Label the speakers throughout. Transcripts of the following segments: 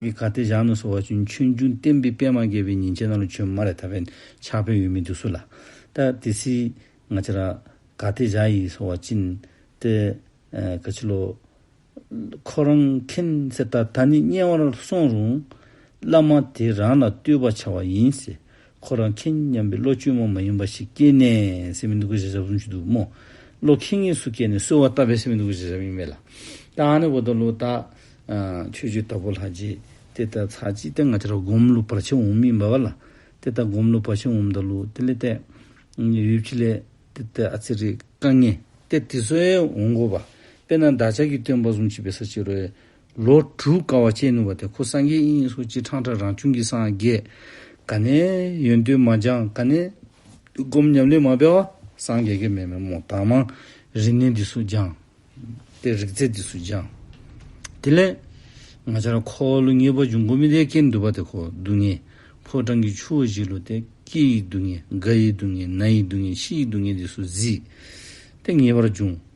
Speaker 1: གི་གར་སྟེགས་བཞག་ནས་སོ་བ་ཅུན་མཆོད་འབྱུང་བསྟན་པའི་པདྨ་རྒྱལ་བའི་ཉིན་བྱེད་རྣམས་ལ་ཆོས་མ་རེ་ཐར་པའི་ཕྱག་དཔེ་འོས་མི་འདུག་སུ་ལ་ལྟ། དེ་སྲིད་ང་ཅི་ར། གར་སྟེགས་བཞག་ཡིག་སོ་བ་ཅིན། ཏེ། ག་ཆི་ལོ། ཁོ་རང་མཁྱེན་གསལ་ལྟར་ད་ནི་དམྱལ་བར་སོང་རུང། བླ་མ་དེ་རང་ལ་བསྟོད་པ་བྱ་བ་ཡིན། ཁོ་རང་མཁྱེན་སྙམ་པའི་བློ་བཅོས་མ་མ་ཡིན་པ་ཞིག་སྐྱེས་ནས་སེམས་མི་སྡུག་པའི་བྱ་བཞག་གསུམ་བྱེད་དུ་མོ། བློ་མཁྱེན་ངེས་སུ་སྐྱེས་ནས་གསོལ་བ་བཏབ་པས་སེམས་མི་སྡུག་པའི་བྱ་བཞག་གཉིས་མེད་ལ། ད་ཧ་ནི་བོ་ད་ལོ་ད། ཆོས་བརྒྱུད་དྭགས་པོ་ལྷ་རྗེ། དེ་ལྟར་ཚར་གཅིག་སྟེ་ང་ཅི་ར་སྒོམ་ཀླུ་བར་ཆད་འོང་མིན་སྦ་བ་ལ། དེ་ལྟར་སྒོམ་ཀླུ་བར་ཆད་འོང་ད་ལོ་དེ་ལས་ཏེ། ཡུལ་གྱི་ལས། དེ་ལྟར་ཨ་ཙི་རི་ཀ་ངས་ཏེ་དེ་སོའི་འོང་གོ་བ། དཔེར་ན་བདག་ཅག་གིས་སྟོན་པ་གསུམ་མཆིས་པའི་ས་ཕྱི་རོལ། ལོ་དྲུག་དཀའ་བ་སྤྱད་ནུས་པ་དེ་ཁོ་སངས་རྒྱས་དབྱིངས་ཡིན་སོགས་སྤྱིར་ཁྲང་ཁྲ་རང་བྱུང་གི་སངས་རྒྱས། ག་ནས་ཡོན་ཏུ་མ་སྦྱངས་ག་ནས་སྒོམ་ཉམས་ལེན་མ་སྤེལ་བ་སངས་རྒྱས་ཀྱི་མེ་མེ་མོ་དྭངས་མ་རིག་གནས་འདི་སུ་སྦྱངས། ཏེ་རིག་རྩལ་འདི་སུ་སྦྱངས། དེ་ལས་ང་ཅར་ཁོ་བ་ལོ་ངེས་པར་འབྱུང་གོ་མི་དེ་སྐད་འདུལ་བ་དེ་ཁོ་སྡུག་བསྔལ། ཕོ་བྲང་གི་ཆུ་བོ་བཞི་ལོ་སྟེ་སྐྱི་ཡི་སྡུག་བསྔལ་རྒ་ཡི་སྡུག་བསྔལ་ན་ཡི་སྡུག་བསྔལ་ཤི་ཡི་སྡུག་བསྔལ་འདི་སུ་གཟིགས། ཏེ་ངེས་པར་འབྱུང།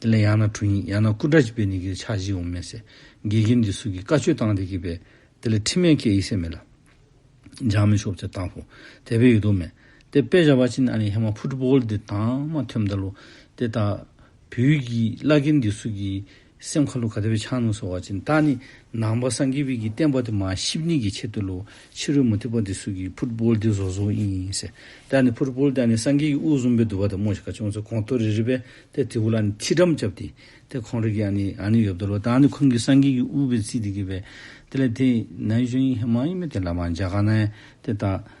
Speaker 1: དེ་ལ་ཡང་ན་གྲུ་ཡིན་ཡང་ན་སྐུ་འདྲ་ཅིག་པས་ནི་གིས་ཕྱག་བཞི་འོང་མི་སྲིད། དགེ་རྒན་འདི་སུ་གིས་བཀའ་ཆོས་བཏང་དེ་གིས་པས། དེ་ལ་ཁྲིམས་མེད་སྐད་ཡིག་སྲས་མེད་ལ། འཇག་མེད་ཤོག་ཚད་བཏང་བོ། དད་པའི་ཡོད་དོ་མེད། དེ་དཔེ་བྱ་བ་ཅི་ནི་ཨ་ལི་ཧེ་མ་ཕུ་ཏྲུ་པོ་ལི་དེ་དང་མ་ཐོན་མདལ་ལོ། དེ་ལྟ་བུའི་གིས་བླ་རྒན་འདི་སུ་གིས། སེམས་ཁ་ལོ་ག་དེ་བས་འཆང་ནུ་སོ་བ་ཅན་ད་ནི་ནང་པ་སངས་རྒྱས་བིད་ཀྱིས་བསྟན་པ་དེ་མ་ཤིབ་གཉིས་ཀྱི་ཆེད་དུ་ལོ་ཕྱི་རོལ་མུ་ཏིག་པ་འདི་སུ་གི་ཕུར་བུལ་འདི་བཟོ་བཟོ་ཨིན་ཨིན་ཟེར་ད་ནི་ཕུར་བུལ་ད་ནི་སངས་རྒྱས་ཀྱི་དབུ་གསུམ་པའི་དུ་བ་དང་སྨོ་ཞིག་ག་ཅུང་ཟད་གོང་མཐོ་རི་རི་བས་དེ་དེའུ་ལ་ནི་ཐིག་འགྲམ་བཅབ་སྟེ་དེ་ཁོང་རེ་གི་ཨ་ནི་ཨ་ནི་ཡོད་བདོ་ལོ་ད་ནི་ཁོང་གིས་སངས་རྒྱས་ཀྱི་དབུ་བའི་ཚིག་དེ་གི་བས་དེ་ལ་དེ་ནའི་གཞོན་ཡིན་ཧེ་མ་ཡིན་མེ་དེ་ལ་མ་འཇག་ག་ནའི་དེ་ད།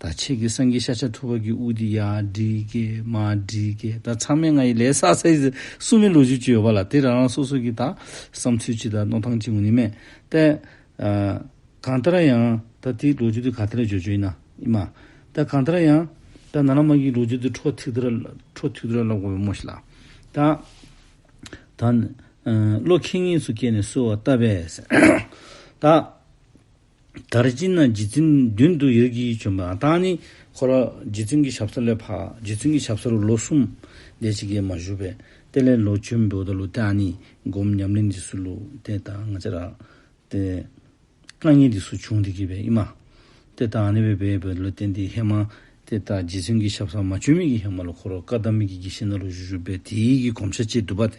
Speaker 1: ད་ཁྱེད་ཀྱི་སེང་གེ་ཤ་ཆ་ཐུག་པ་གི་དབུགས་འདི་ཡར་འགྲིག་གི་མར་འགྲིག་གི་ད་ཚང་མས་ང་ཡི་ལས་བསགས་ཚེ་སུ་མི་ལོ་རྒྱུས་ཀྱི་ཡོད་པ་ལ་དེ་རང་རང་སོ་སོ་གི་ད་བསམ་ཚུལ་ཅི་དང་རྣོ་ཐང་ཅི་ངོ་ནི་མེད་ཏེ། གང་ལྟར་ཡང་ད་དེའི་ལོ་རྒྱུས་དེ་ག་དེ་ལ་བརྗོད་བརྗོད་ཡིན་ན་ཨི་མ། ད་གང་ལྟར་ཡང་ད་ན་ན་མ་གིའི་ལོ་རྒྱུས་དེ་འཕྲོ་ཐིག་དེ་འཕྲོ་ཐིག་དེ་ལ་གོ་བའི་མོ་ཞིག་ལ། ད་ད་ནི་བློ་ཁེངས་ངེས་སུ་སྐྱེས་ནས་གསོལ་བ་བཏབ་པས། ད། དར་སྤྱིན་ན་རྗེ་བཙུན་མདུན་དུ་ཡོད་ཀྱིས་བྱོན་པ་དང་ནི། འཁོར་བ་རྗེ་བཙུན་གྱི་ཞབས་ས་ལས་འཕགས། རྗེ་བཙུན་གྱི་ཞབས་ས་རུ་ལོ་གསུམ། ལས་ཅི་དགེ་མ་བཞུགས་པས། དེ་ལས་ལོ་བཅུའི་འབུལ་བ་ལུགས་དེའང་ནི། སྒོམ་ཉམས་ལེན་རྗེས་སུ་ལུགས་དེ་དང་ང་ཅག་རག། ཏེ། བཀའ་ཉན་རྗེས་སུ་བྱུང་དེ་དགེ་བའི་དབྱིངས་མ། དེ་དང་ནི་བས་པའི་འབུལ་བ་ལུགས་དེ་འདི་ཧེ་མ། དེ་ལྟར་རྗེ་བཙུན་གྱིས་ཞབས་གསང་མ་བཅོས་མིག་གི་ཧེ་མ་ལ་འཁོར་བ་བཀའ་གདམས་མིག་གི་དགེ་བཤེས་སྣ་ལོ་བཞི་བཞུགས་པས་དེའི་ཡིད་ཀྱི་གོམས་ཤ་གཅིག་བསྡུ་བ་དེ་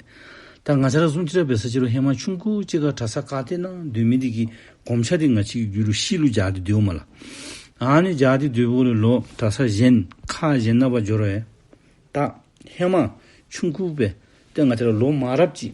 Speaker 1: ལྟར་ང་ཆར་གསུམ་ཅི་ར་བའི་ས་ཕྱི་རུ་ཧེ་མ་ཆུང་ཁུ་གཅིག་ག་གྲ་ས་ཀ་སྟེ་ན་འདོད་མི་འདི་གི་གོམས་ཤ་དེ་ང་ཆིག་གི་རྒྱུ་རུ་ཤི་ལུ་འཇག་ཏེ་འདོད་བོ་མ་ལ་ཨ་ནི་འཇག་ཏེ་འདོད་བོ་ལི་ལོ་གྲ་ས་གཞན་ཁ་གཞན་ན་བ་འབྱོར་བས་ད་ཧེ་མ་ཆུང་ཁུ་བས་ཏེ་ང་ཆར་ལོ་མ་རབ་ཅིག་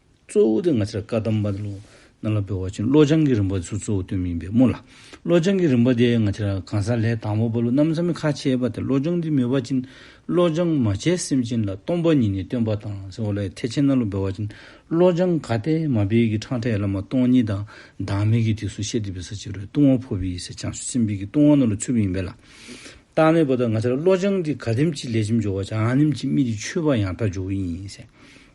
Speaker 1: གཙོ་བོ་དེ་ང་ཚོས་བཀའ་གདམས་པ་ལོ་ན་ལ་འབུལ་བ་བྱིན་བློ་སྦྱང་གི་རིམ་པ་དེ་ཚོ་གཙོ་བོ་སྟོན་མིན་པའི་སྨོན་ལ། བློ་སྦྱང་གི་རིམ་པ་དེ་ང་ཚོས་གང་ཟག་ལས་དང་བོ་པ་ལོ་ན་མཚམས་མེད་ཁ་ཕྱེས་པ་དེ་བློ་སྦྱོང་དེ་མོས་པ་བྱིན་བློ་སྦྱང་མ་བྱས་སེམས་ཅན་ལ་སྟོང་པ་ཉིད་ནས་སྟོན་པ་དང་སེམས་བློ་ཡི་ཐེག་ཆེན་ན་ལོ་འབུལ་བ་བྱིན་བློ་སྦྱང་དགའ་སྟེ་མ་སྦས་ཀྱི་འཕྲང་ཕྲད་བླ་མ་སྟོང་ཉིད་དང་བདག་མེད་ཀྱི་དུས་སུ་ཤེས་སྒྲིབ་པའི་ས་བཅད་རོའི་ལྟུང་བ་འཕོ་བའི་ས་བྱང་ཆུབ་སེམས་དཔའི་ཀྱི་ལྟུང་བ་ན་ལོ་ཆུབ་ཡིན་པས་ལ། བདག་མེད་པ་དང་ང་ཚོས་བློ་སྦྱང་དེ་ག་དེམ་གྱི་ལས་ཅི་འཇོག་བ་བྱ་ཨ་དེམ་གྱི་མིག་དེ་ཆུད་པ་ཡང་དག་འཇོག་གི་ཡིན།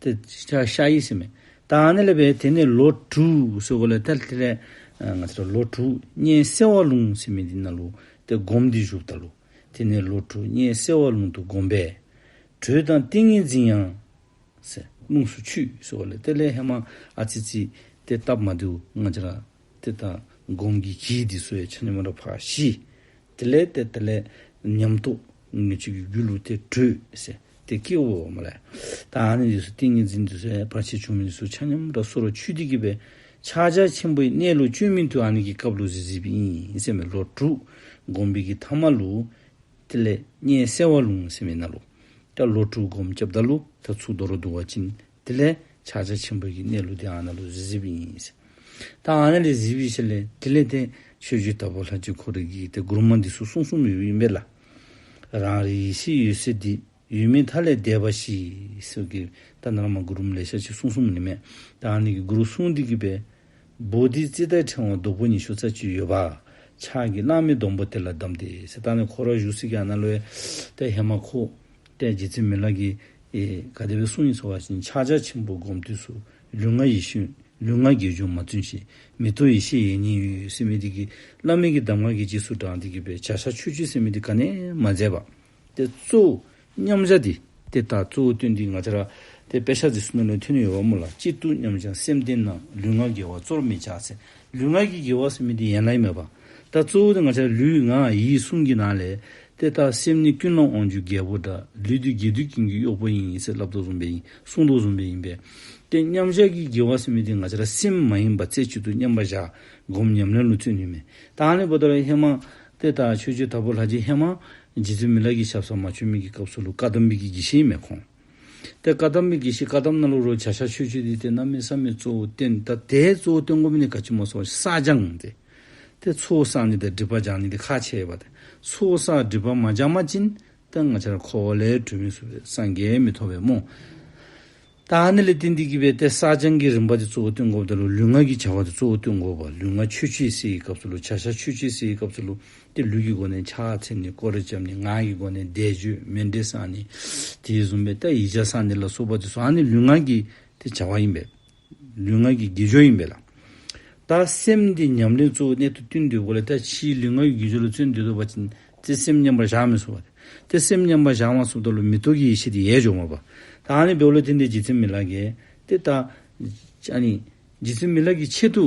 Speaker 1: དེ་ཤ་ཡིས་སེམས། དང་ནི་ལས་པའི་དེ་ནས་ལོ་དྲུག་སོ་གོ་ལས་ཐལ་ཐེ་ལས། ང་ཚ་ལོ་དྲུག་གཉན་སེ་བ་ལུང་སེ་མི་འདི་ན་ལུ། དེ་བསྒོམ་འདི་བཞུགས་ད་ལུ། དེ་ནས་ལོ་དྲུག་གཉན་སེ་བ་ལུང་དུ་བསྒོམ་པས། དྲོད་དང་ཏིང་ངེ་འཛིན་ཡང། སེ། རླུང་སུ་ཆུད་སོ་གོ་ལས་ཐལ་ལས་ཧེ་མ་ཨ་ཙི་ཙི། དེ་བཏབ་མ་དུ་ང་ཅི་ལ། དེ་དག་སྒོམ་གྱི་གྱིས་འདི་སོ་ཡ་ཆ་ཉམས་རབ་འཕགས་ཞི། དེ་ལས་དེ་དེ་ལས་ཉམས་རྟོགས་ངེས་བྱེད་ཀྱི་རྒྱུ་ལུགས་དེ་དྲོད་སེ་དེ་སྐྱེ་བོ་འོ་མ་ལས། ད་ནི་འདི་སོ་ཏིང་ངེ་འཛིན་འདི་སོ་ཡ་བར་ཆད་བྱུང་མིན་སོ་ཆ་ཉམས་རབ་སོ་ར་ཆུ་ཏིག་གི་བའི་ཕྱག་རྒྱ་ཆེན་པོའི་གནས་ལུགས་བཅོས་མིན་དུ་ཨ་ནི་གི་སྐབས་ལུགས་སེ་ཟིལ་པའི་ཨིན་སེ་མེ་ལོ་དྲུག་སྒོམ་པའི་གྱི་ཐ་མ་ལུགས། དེ་ལས་གཉན་སེ་བ་ལུང་སེ་མེ་ན་ལུགས། ཀ་ལོ་དྲུག་སྒོམ་སྐྱབས་ད་ལུགས་ད་ཚུགས་རྡོ་རོ་དུ་བ་ཅིན་དེ་ལས་ཕྱག་རྒྱ་ཆེན་པོ་ཡི་གནས་ལུགས་འདི་ཨ་ན་ལུ་ཟི་ཟིབ་ཡིན། ད་ཨ་ན་ལི་ཟིབ་ཡིན་ཞེས་ལས་དེ་ལས་དེ་ཆོས་རྒྱུད་ལྟ་བུ་ལྷ་རྒྱུད་ཁོ་རེ་གིས་དེ་གུར་མ་འདི་སུ་གསུང་སུ་མི་ཡོད་ཡིན་པས་ལ། རང་རེ་ཡེ་ཤེས་ཡོད་སའི་འདི་ཡུལ་མི་མཐའ་ལས་འདས་པ་ཞིག་སོ་གི་ད་ནར་མ་གུར་མ་ལས་ཤ་ཆི་སུང་སུང་མ་ནི་མེད་ད་ཨ་ན་གི་གུར་སུང་འདི་གི་པའི་བུ་འདི་ཙི་ཏའི་ཕྲེང་བ་སྡུག་པོ་ཉི་ཤུ་རྩ་བཅུ་ཡོད་པ་ཕྱག་གི་གླང་མི་སྡོམ་པོ་དེ་ལ་བསྡམས་ཏེ་ད་ནི་ཁོ་ར་བཞུགས་སྲིད་ཀྱི་ཨ་ན་ལོའི་ལྟས་ཧེ་མ་ཁུ་ལྟས་རྗེ་ཙི་མི་ལ་གི་ག་དེ་བས་གསུང་ཡིད་འཚོ་བ་བཞིན་ཕྱག་རྒྱ་ཆེན་པོ་བསྒོམ་དུས་སུ། ལུས་ངག་ཡིད་གཞུང་ལུས་ངག་དགེ་སྦྱོང་མ་བཙུན་ཞིང་མི་རྟོག་ཡེ་ཤེས་ཡེ་ཉིད་ཡུལ་སེམས་མི་སྡིག་གི། བླ་མེད་ཀྱི་གདམས་ངག་གིས་རྗེས་སུ་འབྲང་སྟེ་དགེ་བའི་བྱ་བཞག་ཆོས་སྤྱོད་སེམས་མི་སྡིག་ག་ནས་མ་མཛད་པ། དེ་གཙོ་བོ་མཉམ་བཞག་འདི། དེ་ལྟར་གཙོ་བོ་སྟོན་འདི་ང་ཅག་ར། དེ་དཔེ་ཤ་ཚིག་སུ་ན་ལོན་ཐུན་ནི་ཡོད་པ་མོ་ལ་གཅིག་ཏུ་མཉམ་བཞག་སེམས་བསྟེན་ན་ལུས་ངག་དགེ་བ་གཙོར་མི་བྱ་ཚེ། ལུས་ངག་གི་དགེ་བ་སེམས་མི་སྡིག་ཡན་ལག་མེད་པ། ད་གཙོ་བོ་དེ་ང་ཅག་ལུས་ངག་ཡིད་གསུམ་གྱི་ནང་ལས། དེ་ལྟར་སེམས་ནི་ཀུན་སློང་དབང་བཅུའི་རྒྱལ་པོ་འདྲ། ལུས་དུས་དགེ་སྡིག་ཀུན་གྱི་གཡོག་པོ་ཡིན། ཡིད་ཚེ་བསླབ་བཟློག་བཟུང་བས་ཡིན། བསྲུང་བཟློག་བཟུང་བས་ཡིན་པས། དེ་མཉམ་བཞག་གིས་དགེ་བ་སེམས་མི་བདེ་ང་ཅག་སེམས་མ་ཡིན་པ་རྩེ་གཅིག་ཏུ་མཉམ་པར་བཞག། སྒོམ་ཉམས་ལེན་ལུས་ཚོད་ནུས་མེད། དྭངས་ལས་པོ་ཏོ་རའི་ཧེ་མ། དེ་ལྟར་ཆོས་སྤྱོད་དྲག་པོ་ལྷ་རྗེའི་ཧེ་མ། རྗེ་བཙུན་མི་ལ་གི་ཞབས་ས་མ་ཆོད་མིག་གི་སྐབས་སུ་ལུ་ཀ་དམ་འབིགས་ཀྱི་བགྱི་བཤེས་མེ་ཁོང། ཏེ། བཀའ་གདམས་མི་དགེ་བཤེས་བཀའ་གདམས་རྣ་ལུགས་རོལ་བྱ་ཤར་ཆོས་སྤྱོད་འདི་སྟེ་རྣམ་སྨིན་བསམ་མེད་གཙོ་བོ་བསྟན། ད་ལྟའི་གཙོ་བོ་སྟོན་མགོ་མི་ནི་དགའ་ཆེན་མོ་སོགས་བསགས་སྦྱངས་ཏེ། ཏེ། ཚོགས་བསགས་ནི་ད་སྒྲིབ་པ་སྦྱངས་ནི་འདི་ཁ་ཆེ་བ་སྟེ། ཚོགས་བསགས་སྒྲིབ་པ་མ་སྦྱངས་མ་བཅིན། ཏེ། ལྔ་ཆར་འཁོར་བ་ལས་གྲོལ་མི་བཟོད་པས་སངས་རྒྱས་མི་ཐོབ་པའི་རྨོངས། ད་ནི་ལས་ཏེ་འདི་བགྱིས་པས་ཏེ་བསགས་སྦྱངས་ཀྱི་རིམ་པ་དེ་གཙོ་བོ་སྟོན་མགོ་བ་དང་ལུས་ངག་གི་བྱ་བ་དེ་གཙོ་བོ་སྟོན་མགོ་བ་ལུས་ངག་ཆོས་སྤྱོད་བསྲེ་ཡི་སྐབས་སུ་ལུས་བྱ་ཤར་ཆོས་སྤྱོད་བསྲེ་ཡི་སྐབས་སུ་ལུས་དེ་ལུས་ཀྱི་སྒོ་ནས་ཆགས་ཚེམས་ནི་ཀོ་རེ་བཅབས་ནས་ངག་གི་སྒོ་ནས་བཟླས་བརྗོད་མེ་འབྲས་སངས་ནི། དེའི་བཟུང་བས་ཏཱྃ་ཡིག་བྱ་སངས་ནི་ལ་སོགས་པ་དེ་སོགས་ཨ་ནི་ལུས་ངག་གི་དེ་བྱ་བ་ཡིན་པས། ལུས་ངག་གི་དགེ་སྦྱོར་ཡིན་པས་ལ། ད་སེམས་དེ་ཉམས་ལེན་གཙོ་བོའི་གནད་དུ་བསྟུན་འདོད་དགོས་ལ་ད་ཕྱིའི་ལུས་ངག་གི་དགེ་སྦྱོར་ལ་བརྩོན་འདོད་དོགས་པ་ཅན་དེ་སེམས་མཉམ་པར་བཞག་མི་གསུང་བ་སྟེ། དེ་སེམས་མཉམ་པར་བཞག་མ་སོགས་དག་ལ་མི་རྟོག་གི་ཡེ་ཤེས་དེ་ཡལ་འབྱོར་མ་པ། ད་ཨ་ནི་བའི་བློ་དེ་འདས་ཀྱི་ཚེ་མི་ལགས་ཀྱི། དེ་ད། ཨ་ནི། ཀྱི་ཚེ་མི་ལགས་ཀྱི་ཆེད་དུ།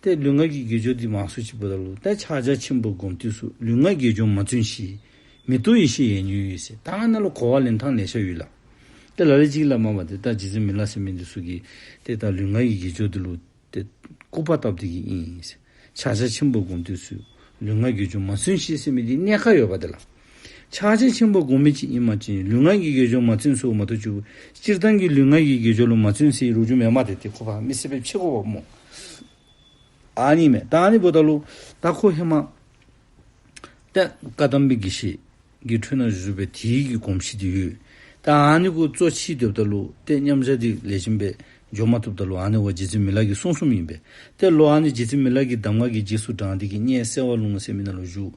Speaker 1: ཏེ་ལུས་ངག་གི་དགེ་སྦྱོར་འདི་མ་བཟོད་ཅིག་པུ་ད་ལོ་ཏེ་ཕྱག་རྒྱ་ཆེན་པོ་བསྒོམ་དུས་སུ་ལུས་ངག་དགེ་སྦྱོར་མ་བཙུན་བཞི། མི་རྟོག་ཡེ་ཤེས་ཡན་ཉོན་ཡོད་ཟེར་ད་ང་ན་ལོ་གོ་བ་ལེན་ཐང་ལས་ཤ་ཡོད་ལ། ཏེ་ལ་ལས་ཅིག་ལ་མ་བ་ཏེ་ད་ཇི་ཙམ་མི་ལ་སེམས་མི་འདི་སུ་གི། ཏེ་ད་ལུས་ངག་གི་དགེ་སྦྱོར་འདི་ལུ། ཏེ། སྐུ་པ་ཏབ་ཏི་གི་ཨིན། ཕྱག་རྒྱ་ཆེན་པོ་བསྒོམ་དུས་སུ་ལུས་ངག་དགེ་སྦྱོར་མ་བཙུན་བཞི་སེམས་མི་འདི་གནས་ཁ་ཡོད་པ་དེ་ལ། ཕྱག་ཆེན་ཆེན་པོ་དགོངས་མེད་ཅིག་ཡིན་མ་བཅིངས་ལུས་ངག་གི་དགེ་སྦྱོར་མ་བརྩོན་སུ་མ་ཐུག་ཆུ་བོ་སྤྱིར་བཏང་གི་ལུས་ངག་གི་དགེ་སྦྱོར་ལུགས་མ་བརྩོན་སའི་རུ་ཆུ་མེད་མ་དེ་དེ་ཁོ་ཕག་མི་སྲིད་པའི་ཕྱི་ཁོ་བ་མོ་ཨ་ནི་མེད་ད་ནི་བུ་ད་ལུག་ད་ཁོ་ཧེ་མ་ཏད་བཀའ་གདམས་པའི་དགེ་བཤེས་ཀྱི་འཁྲུལ་སྣང་བཞུགས་པའི་དེའི་གི་གོམས་གཤིས་དེ་ཡོད་ད་ཨ་ནི་ཁོ་གཙོ་ཕྱིས་སྡོད་ད་ལུག་ཏད་མཉམ་བཞག་དེ་ལས་གཞན་པས་འཇོག་མ་ཐུབ་ད་ལུག་ཨ་ནི་བ་རྗེ་བཙུན་མི་ལག་གི་གསུང་གསུམ་ཡིན་པས་ཏད་ལུག་ཨ་ནི་རྗེ་བཙུན་མི་ལག་གི་གདམས་ངག་གི་རྗེས་སུ་འབྲང་དེ་གི་སྙན་གསལ་བ་ལུང་གསལ་མི་སྣ་ལ་བཞུགས་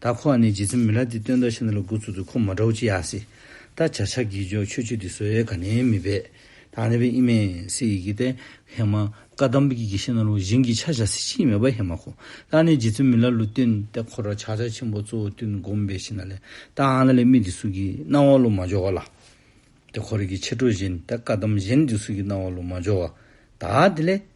Speaker 1: ད་ཁོ་བ་ནི་རྗེ་བཙུན་མི་ལ་འདི་སྟོན་ད་ཤི་ན་ལ་དགུ་ཚུགས་འདུག་ཁོ་མ་འདྲ་བོ་ཅི་ཡག་སི་ད་བྱ་བྱ་གི་ཇོ་ཆོས་ཆོས་འདི་ཟོའི་ག་ནས་མི་བེད་ད་ནས་བེད་ཨི་མེད་སི་ཡི་གི་ཏེ་ཧེ་མ་བཀའ་གདམས་པ་གི་གི་ཤི་ན་ལུ་གཞན་གི་ཆ་བྱ་སི་ཅི་ཡི་མེད་པ་ཧེ་མ་ཁོ་ད་ནས་རྗེ་བཙུན་མི་ལ་ལུ་སྟོན་ད་ཁོ་ར་བྱ་བྱ་ཆེན་པོ་གཙོ་བོ་སྟོན་བསྒོམ་བེད་ཤི་ན་ལེ་ད་ཨ་ན་ལེ་མི་འདི་སུ་གི་སྣང་བ་ལུ་མ་འཇོག་བ་ལ་ཏེ་ཁོ་ར་གི་ཆེ་ཁྲོ་བཞིན་ད་བཀའ་གདམས་གཞན་འདི་སུ་གི་སྣང་བ་ལུ་མ་འཇོག་བ་ད་དེ་ལེ།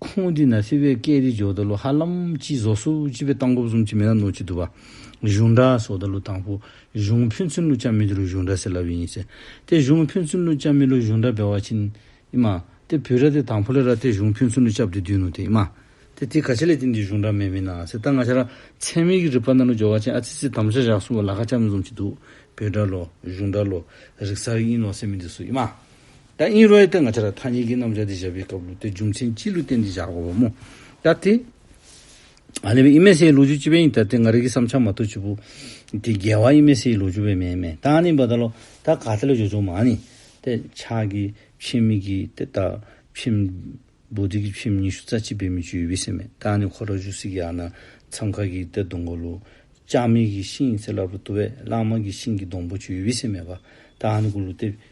Speaker 1: ཁོང་དུས་ན་སི་བའི་སྐད་རིགས་ཇོ་ད་ལུ་ཧ་ལམ་གྱིས་བཟོ་སུ་ཅི་བའི་སྟངས་སྐོར་གསུམ་གྱི་མི་སྣ་ནོར་གྱི་འདུག་བ། གཞུང་འདྲ་སོག་ད་ལུ་དང་པོ་གཞུང་ཕུན་ཚུན་ལུ་ཅང་མི་འདི་རུ་གཞུང་འདྲ་ཟེར་ལབ་ཡིན་ཟེར་དེ་གཞུང་ཕུན་ཚུན་ལུ་ཅང་མི་ལུ་གཞུང་འདྲ་བེ་བ་ཆིན་ཨི་མ་དེ་བུ་ར་དེ་དང་པོ་ལེ་ར་དེ་གཞུང་ཕུན་ཚུན་ལུ་ཅབ་དེ་དུས་ནུ་དེ་ཨི་མ་དེ་དེ་ག་ཆ་ལེ་དེ་འདི་གཞུང་འདྲ་མེ་མི་ན་ཟེར་ད་ང་ཆ་ར་ཚན་མིག་གི་རི་པ་ན་ལུ་ཇོ་བ་ཆིན་ཨ་ཚི་ཚི་དམ་བཅའ་བཞག་སུ་བ་ལ་ཁ་ཅག་མི་འཛོམས་ཀྱི་འདུག་བེ་འདྲ་ལོ་གཞུང་འདྲ་ལོ་རིག་གསར་ཨིན་ལོ་སེ་མི་འདི་སུ་ཨི་མ། ད་ཨིན་རོའི་སྟེང་ང་ཆ་ར་ཐ་གཉིས་ཀྱི་རྣམ་གཞག་འདི་བཞག་པའི་སྐབས་ལུགས་དེའི་རྒྱུ་མཚན་སྤྱི་ལུགས་སྟེང་འདི་བཞག་དགོས་པ་མོ། ད་དེ། ཨ་ལེ་བའི་ཨི་མེ་སེའི་ལོ་རྒྱུས་སྤྱི་ཕན་ཡིན་ད་དེ་ང་རིག་གི་བསམ་འཆར་མ་ཐུག་ཆུ་བོ། དེ་རྒྱལ་བ་ཨི་མེ་སེའི་ལོ་རྒྱུས་བའི་མེ་མེ་ད་ནི་བ་ད་ལོ་ད་ག་ད་ལ་བྱོ་བྱོ་མ་ནི། དེ་ཕྱག་གི་ཕྱིན་མིག་གི་དེ་ད་ཕྱིན། བོ་དེ་གི་ཕྱིན་ཉི་ཤུ་རྩ་གཅིག་པའི་མི་ཆུ་ཡི་བི་སེ་མེ་ད་ནི་ཁོ་ད་ཆུ་སི་གི་ཨ་ན་མཚམས་ཁ་གི་དེ་སྡོང་གོ་ལུ། ལྕགས་མིག་གི་ཤིང་ཡི་ཚེ་སླར་བུ་ཏུ་བས་གླང་མ་གི་ཤིང་གི་སྡོང་བོ་ཆུ་ཡི་བི་སེ་མེ་བ་ད་ནི་གུ་ལུ་དེ་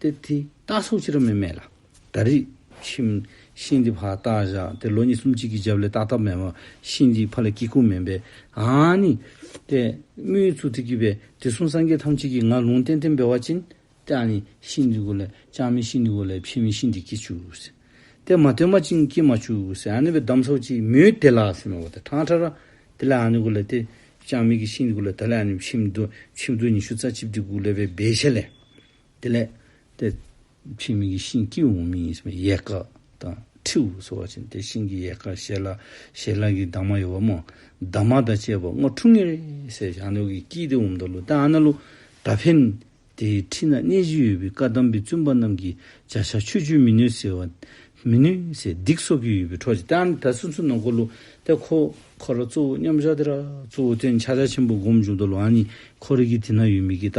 Speaker 1: ཏེ་དེ་རྟགས་སོགས་ཅི་རང་མེད་མེད་ལ། ད་རིག། ཁྱིམ། ཤིང་འདི་ཕག་རྟགས་བཞག་སྟེ་ལོ་ཉིས་སུམ་གཅིག་གི་རྒྱབ་ལས་ཏག་ཏག་མེད་བ། ཤིང་འདིའི་ཕ་ལ་སྐྱིད་ཁུག་མིན་པས། ཨཱ་ནི། ཏེ། དམུའི་ཚུལ་དུ་བསྐྱིལ་བས་དེ་གསུམ་སངས་རྒྱས་ཐམས་ཅད་ཀྱིས་ང་ལུང་བསྟན་ཏེ་འབེལ་བ་ཅན། ཏེ་ཨཱ་ནི། ཤིང་འདི་གོ་ལས་ཅང་མིན་ཤིང་འདི་གོ་ལས་ཕྱིན་མིན་ཤིང་འདི་སྐྱིད་ཆུག། ཏེ་མ་ཐོན་མ་བཅིངས་སྐྱིད་མ་ཆུག། ཨཱ་ནི་བའི་གདམས་སོགས་ཀྱིས་མོས་དེ་ལ་སེམས་མེད་པ་དེ་ཐང་ཁྲ་ར། དེ་ལས་ཨཱ་ནི་གོ་ལས་ཏེ། ཅང་མིན་གྱི་ཤིང་འདི་གོ་ལས་ད་ལས་ཨཱ་ནི་ཕྱིན་མདོ་ཆིབས་རྡོ་ཉི་ཤུ་རྩ་གཅིག་གྲི་གུག་ལས་པའི་སྦས་ཆ་ལས། དེ་ལས། དེ་ཕྱི་མིག་གི་ཤིང་སྐྱི་འོག་མིན་ཡིན་ཟེར་བའི་ཡལ་ག་དང་ཁྲིའུ་སོགས་བ་ཅན་དེ་ཤིང་གི་ཡལ་ག་ཞལ་ལག་ཞལ་ལག་གི་དྭངས་མ་ཡོད་པ་མོ་དྭངས་མ་དང་བཅས་པ་སྔོ་ཕྲུག་ངེར་སེར་ཞང་ནོར་གྱི་སྐྱིད་དེ་འོམ་དང་ལུ་ཏན་ཨ་ན་ལུ་ད་ཕེན། དེའི་ཁྲི་ན་གནས་གཞི་ཡོད་པའི་བཀའ་གདམས་པའི་བཙུན་པ་རྣམས་ཀྱི་བྱ་བཞག་ཆོས་བཅུ་མི་ནུས་ཟེར་བ། མི་ནུས་ཟེར་སྡིག་སོགས་ཀྱི་ཡོད་པའི་འཕྲོ་བཅད་ཨ་ན་ད་སུན་སུན་ནང་སྐོར་ལུ་ཏན་ཁོ་ཁོ་ར་གཙོ་བོ་མཉམ་བཞག་དེ་ར་གཙོ་བོ་སྟེ་འཆ་བྱ་ཆེན་པོ་སྒོམ་བྱུང་དང་ལུ་ཨ་ནི་ཁོ་རིག་གི་དེ་ན་ཡོད་མི་གི་ད་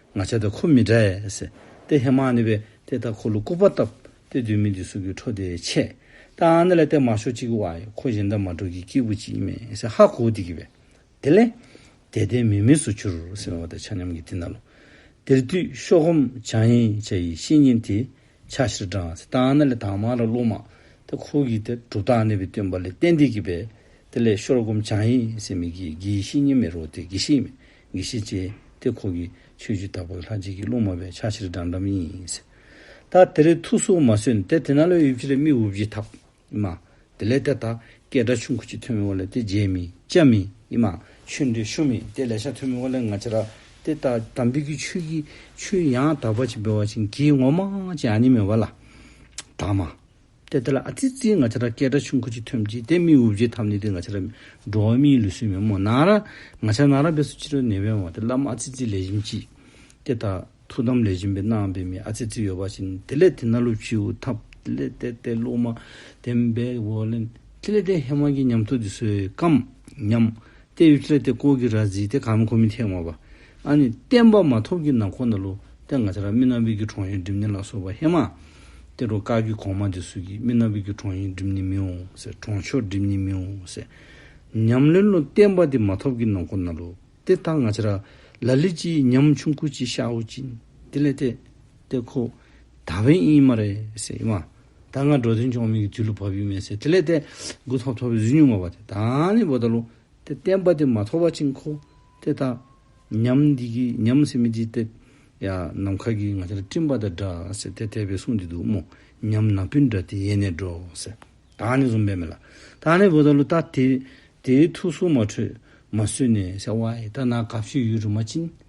Speaker 1: ང་ཆ་དེ་ཁོ་མི་འདྲ་ཨེས། དེ་ཧེ་མ་ནི་བས་དེ་ལྟར་ཁོ་ལུ་ཀུ་པ་བཏབ། དེ་དུས་མི་འདི་སུ་གི་འཕྲོ་དེ་ཆད། ད་ཨ་ནི་ལ་བལྟས་མ་ཤོག་ཅིག་ཨའི་ཁོ་གཞན་དག་མ་འགྲོ་གི་སྐྱེས་བུ་ཅིག་མེད་ཨེས་ཧ་གོ་དེ་གི་བས། དེ་ལས། དད་ལྡན་མི་མེད་སུ་གྱུར་སེམས་བ་དེ་ཆ་མཉམ་གི་དེ་ན་ལོ། དེར་དུས་ཤོག་ཧོམ་བྱང་ཡིན་བྱ་ཡི་བཤེས་གཉེན་དེས་ཕྱག་བཞིར་འབྲང་ཨེས་ད་ཨ་ནི་ལ་དྭངས་མ་ལ་བློ་མ། དེ་ཁོ་གི་དེ་གྲུབ་ད་ཨ་ནི་བས་སྟོན་པ་ལས་བསྟན་དེ་གི་བས། དེ་ལས་ཤོར་སྒོམ་བྱང་ཡིན་བྱ་མི་གི་གི་བཤེས་གཉེན་མེད་རོ་དེ་གི་བཤེས་མེད། ངེས་ཤེས་བསྐྱེད་དེ་ཁོ་བོས་ཆོས་བརྒྱུད་དག་པའི་ལྷ་གཅིག་གི་རླུང་མ་བས་ཆགས་ཕྱིར་འགྲམ་འགྲམ་ཡིན། ད་དེ་རིང་ཐུགས་སུ་མ་སོན་དེ་དེ་ན་ལོས་ཡོད་ཕྱིར་མི་འུབ་ཅི་ཐབས་ཡིན་མ། དེ་ལས་དེ་དག་སྐད་སྒྲ་ཆུང་ཁུ་གཅིག་ཐོན་མི་འོ་ལས་དེ་རྗེས་མི་བཅད་མི་ཡིན་མ། ཆོས་འདི་ཤོ་མི་དེ་ལས་ཤ་ཐོན་མི་འོ་ལས་ང་ཅི་ར། དེ་ལྟ་དམ་འབུལ་གྱི་ཆོས་ཀྱི་ཆུ་ཡང་དག་པ་ཅིག་འབེལ་བ་བྱིན་གྱིས་ངོ་མ་ཅི་ཨ་ནི་མེད་བ་ལ། དག་མ། དེ་ལྟར་ཨ་ཙི་ཙིའི་ང་ཆ་ར་སྐད་སྒྲ་ཆུང་ཁུ་ཅིག་ཐོན་གྱིས་དེ་མི་དབུགས་རྒྱུའི་ཐབས་ནི་དེ་ང་ཆ་ར་འགྲོ་བ་མིའི་ལུས་སྲུན་མའི་མོ་ནག་ར་ང་ཆ་ནག་ར་བས་སུ་ཅི་རོལ་ནད་པའི་འོག་དེ་བླ་མ་ཨ་ཙི་ཙི་ལས་བཞིན་གྱིས། དེ་དག་ཐུགས་དམ་ལས་བཞིན་པའི་སྣང་བའི་མི་ཨ་ཙི་ཙི་ཡོད་པ་བཞིན་དེ་ལས་དེ་ན་ལུག་ཁྱི་འུ་ཐབ་དེ་ལས་དེ་དེ་ལུག་མ་དེ་འབེ་བོ་ལན་དེ་ལས་དེ་ཧེ་མ་གྱི་ཉམས་ཐུགས་ཀྱི་བཟོད་སྐམ་ཉམས་ཏའི་ཡུལ་བཙལ་ཏེ་སྐོར་གྱི་ར་བརྫིས་ཏེ་གང་མི་ཁོ་མི་འཐད་ངོ། བ་ཨ་ནི་བསྟན་པ་མ་ཐོབ་ཀྱི་ན་ཁོ་ན་ལུ་ཏའི་ང་ཚ་ར་རྨི་ན་བིས་ཀྱི་གྲོང་ཡིན་སྒྲིབ་ནི་ལ་སོགས་པ་ཧེ་མ་ཏའི་རུ་དཀར་གྱི་གོང་མ་དེ་སུ་གྱིས་རྨི་ན་བིས་ཀྱི་གྲོང་ཡིན་སྒྲིབ་ནི་མི་འོང་ཟེར་གྲོང་ཆོག་སྒྲིབ་ནི་མི་འོང་ཟེར། ཉམས་ལེན་ལུ་བསྟན་པ་དེ་མ་ཐོབ་ཀྱི་ན་ཁོ་ན་ལུ་ཏའི་ད་ང་ཚ་ར་ལ་ལི་ཅི་ཡི་ཉམས་ཆུང་ཁུ་ཅི་ཤའུ་ཅི་དེ་ལས་ཏའི་ཏའི་ཁོ་ད་བན་ཨིན་མ་རེད་ཟེར་ཨི་མ། ད་སྔ་འགྲོ་དོན་ཆོག་མིག་གི་དུས་ལ་བབ་ཡོད་མེད་ཟེར་དེ་ལས་དེ་དགུ་ཐོག་ཐོག་པའི་གཟུགས་ཉུང་བ་བ་དེ་དང་ནི་བོ་ད་ལོ་དེ་བསྟན་པ་དེ་མ་ཐོག་བ་ཅིག་མཁོ་དེ་ད་ཉམས་འདི་གི་ཉམས་སེ་མི་འདི་དེབ་ཡ་ནམ་མཁའ་གིས་ང་ཚར་སྤྲིན་པ་དང་འདྲ་ཟེར་དེ་དེ་བས་གསུངས་འདི་འདུག་མོ་ཉམས་ནག་པོའི་འདྲ་དེ་ཡེ་ནས་འགྲོ་ཟེར་ད་ནི་བཟུང་བས་མེད་ལ་ད་ནི་བོ་ད་ལོ་ད་དེ་དེའི་ཐུགས་སུ་མ་འཕྲོས་མ་བཟོད་ནས་ཟེར་བ་ཡི་ད་ནག་ག་བཤུས་ཡོད་རུ་མ་བྱིན།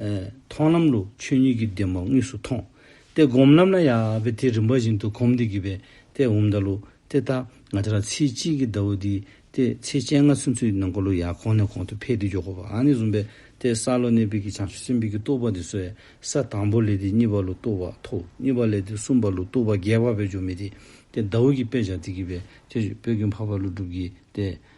Speaker 1: མཐོང་ལམ་ལུགས་ཆོས་ཉིད་ཀྱི་བདེན་པ་དངོས་སུ་མཐོང་སྟེ་སྒོམ་ལམ་ན་ཡང་བས་དེ་རིམ་པ་བཞིན་དུ་གོམས་ཏེ་བགྱིས་པས་དེ་འོང་བརྡ་ལུགས་དེ་ལྟ་ང་ཅག་ལ་ཚེ་གཅིག་གི་བརྡ་བོ་འདིས་ཏེ་ཚེ་སྤྱན་ལྔ་ཚུན་ཚོད་ནང་འཁོར་ལོ་ཡང་གོང་ནས་གོང་དུ་འཕེལ་ཏེ་མགྱོགས་པ་ནས་བཟུང་བས་དེ་ས་ལོ་ནས་དཔལ་གྱི་བྱང་ཆུབ་སེམས་དཔའི་གྱི་རྟོགས་པ་འདི་སོ་ཡ་ས་དང་པོ་ལས་དེ་གཉིས་པ་ལུགས་རྟོགས་པ་ཐོ་གཉིས་པ་ལས་དེ་གསུམ་པ་ལུགས་རྟོགས་པ་རྒྱས་པ་བས་འཇོག་མི་དེ་དེ་བརྡ་བོ་གྱི་དཔེ་བྱ་སྟེ་བགྱིས་པས་དེ་བས་ཀྱི་འཕགས་པ་ལུགས་གྲུབ་བགྱིས་ཏེ་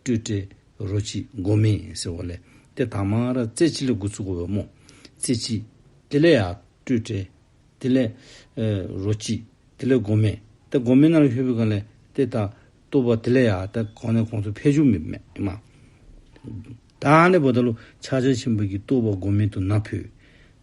Speaker 1: སྤྲོས་བྲལ་རོ་གཅིག་མགོ་མེད་ཟེར་བ་ལས་དེ་དག་མ་ར་རྩེ་གཅིག་ལ་དགུ་ཚུགས་འོས་མོ། རྩེ་གཅིག། དེ་ལས་ཡང་སྤྲོས་བྲལ། དེ་ལས། རོ་གཅིག། དེ་ལས་མགོ་མེད། དེ་མགོ་མེད་ན་ལ་ཧོས་པོའི་སྒང་ལས་དེ་དག་ལྟུ་བ་དེ་ལས་ཡང་དེ་གོང་ནས་གོང་ཚུལ་ཕལ་ཆུང་མེད་མ། བདག་ནི་བོ་ད་ལོ་ཕྱག་ཆ་ཆེན་པོ་ཀྱི་ལྟུ་བ་མགོ་མེད་དུ་ན་ཕུད།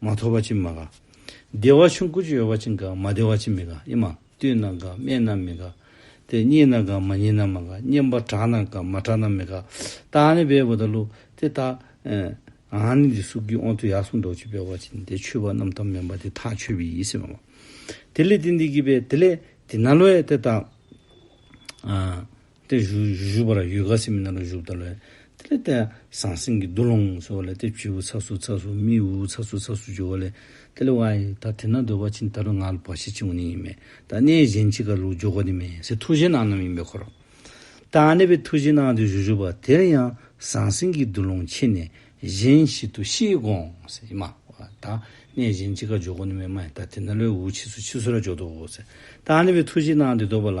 Speaker 1: མ་ཐོབ་བ་ཅི་མ་ག། བདེ་བ་ཆུང་ཀུ་ཅི་ཡོད་བ་ཅི་འགག་མ་བདེ་བ་ཅི་མི་ག་ཨེ་མ། བཏུད་ན་འགག་སྨད་ན་མི་ག། དེ་གཉིས་ན་འགག་མ་གཉིས་ན་མ་ག། གཉེན་པོ་གྲགས་ན་འགག་མ་གྲགས་ན་མི་ག། རྟགས་ནི་བས་བུ་དང་ཀླུ། དེ་རྟགས། ཨཱ་ནི་འདི་སུག་གི་ཨོང་དུ་ཡག་སུག་འདོགས་ཆུ་བས་བ་ཅི་ནི་དེ་ཆུ་བ་རྣམས་དམ་མིན་པ་དེ་ཐག་ཆོད་བི་ཡིས་ཨེ་མ། དེ་ལས་དེ་འདི་གི་བས་དེ་ལས་དེ་ན་ལོའི་དེ་རྟགས། ཏེ། བཞུགས་པ་ལ་ཡུལ་ཁ་སིམ་མེར་སྣང་ལ་བཞུགས་བལྟ་ལོས། དེ་ལས་ཏེ། ཟང་ཟིང་གི་འདུ་ལོང་སོགས་ལས་ཏེ་བྱེའུ་ཚགས་སུ་ཚགས་སུ་མི་འུ་འུ་ཚགས་སུ་ཚགས་སུ་འགྱུར་བ་ལས། དེ་ལས་ཝཱི། ད་དེ་ན་འདོད་པ་ཕྱིན་ད་རུང་ང་ལ་བ་ཞིག་འཆིང་བ་ནི་ཡིན་མེད་ད་གནས་གཞན་གཅིག་ག་ལུགས་འཇོག་གོ་ནི་མེད་ཟེར་ཐུགས་གཞན་སྣང་རྣམས་ཡིན་པའི་འཁོར། ད་གནས་པའི་ཐུགས་གཞན་སྣང་དུ་བཞུགས་བཞུགས་པ་དེར་ཡང་ཟང་ཟིང་གི་འདུ་ལོང་ཕྱེ་ནས་གཞན་ཞིག་ཏུ་ཤི་དགོངས་སེ་མ། ད་གནས་གཞན་གཅིག་ག་འཇོག་གོ་ནི་མེད་མ་ད་དེ་ན་ལོས་འུ་འུ་འཆི་སུ་འཆི་སུ་ར་འཇོག་འདོད་བོ་ཟེར། ད་གནས་པའི་ཐུགས་གཞན་སྣང་དེ་འདོད་པ་ལ།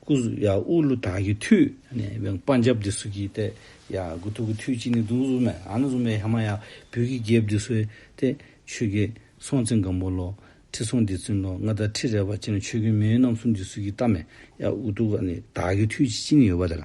Speaker 1: སྐུ་གཟུགས་ཡང་དབུ་ལུ་དག་གི་མཐུས། དཔའ་འཇབ་དེ་སུ་གིས་ཏེ། ཡང་དགུ་ཐུགས་ཀྱི་མཐུས་གཅིག་ནི་གདུགས་གཟུགས་མེད་ཨ་ན་གཟུགས་མེད་ཧེ་མ་ཡ་བུ་གི་རྒྱལ་བུ་དེ་སུ་སྟེ། ཆོས་ཀྱི་སྲོང་བཙན་སྒམ་པོ་ལོ། ཁྲི་སྲོང་ལྡེ་བཙུན་ལོ་ལྔ་དང་ཁྲི་རལ་པ་གཅིག་ནི་ཆོས་ཀུན་མེའུ་རྣམ་གསུམ་དེ་སུ་གིས་ཏཱ་མེ་ཡ་དབུ་ཐུགས་ཀ་ནི་དག་གི་མཐུས་གཅིག་ནི་ཡོད་པ་དེ་ལ།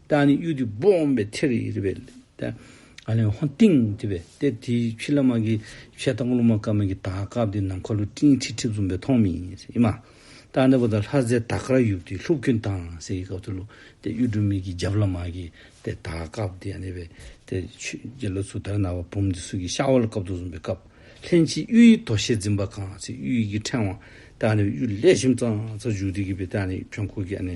Speaker 1: རྟགས་ནི་གཡུ་ཐོད་སྦོམ་པའི་ཐེར་ཡིག་རེ་བས་ཏེ། ཨ་ལན་ཧོ་ཏིང་དེ་བས་ཏེ་དེའི་ཕྱི་ལ་མ་གིའི་ཕྱེད་དང་ཀླུ་མ་དཀར་མ་གིའི་དར་ཀ་བདུན་ནམ་མཁའ་ལོ་སྤྲིན་ཁྲི་ཁྲི་འཛུམ་པའི་མཐོངས་མི་ཡི་མ། རྟགས་འདི་པོ་དང་ལྷ་རྫས་དར་ཀ་ར་ཡུག་ཏི་ལྷུག་གྱོན་དང་ཟས་ཀྱི་སྐབས་སུ་ལུག་སྟེ་གཡུ་སྒྲོན་མིག་གི་རྒྱབ་ལ་མ་གིའི་ཏེ་དར་ཀ་བདུན་ཡང་རེ་བས་ཏེ་ཆོས་རྗེ་ལོ་ཚུགས་དར་ནག་པ་བུམ་སྡེ་སུག་གི་ཤ་བོ་ལ་བཀབ་ཏུ་བཟུང་པའི་སྐབས་ལྷན་ཅིག་གཡུ་ཡི་དོ་ཤལ་འཛིན་པ་གང་ཚེ་གཡུ་ཡི་གི་ཕྲེང་བ། རྟགས་འདི་པོ་གཡུ་ལས་ཞིམ་ཙང་ཙག་འཇུག་སྟེ་གི་པའི་རྟགས་ནི་བྲན་ཁོག་གི་ཨ་ནེ་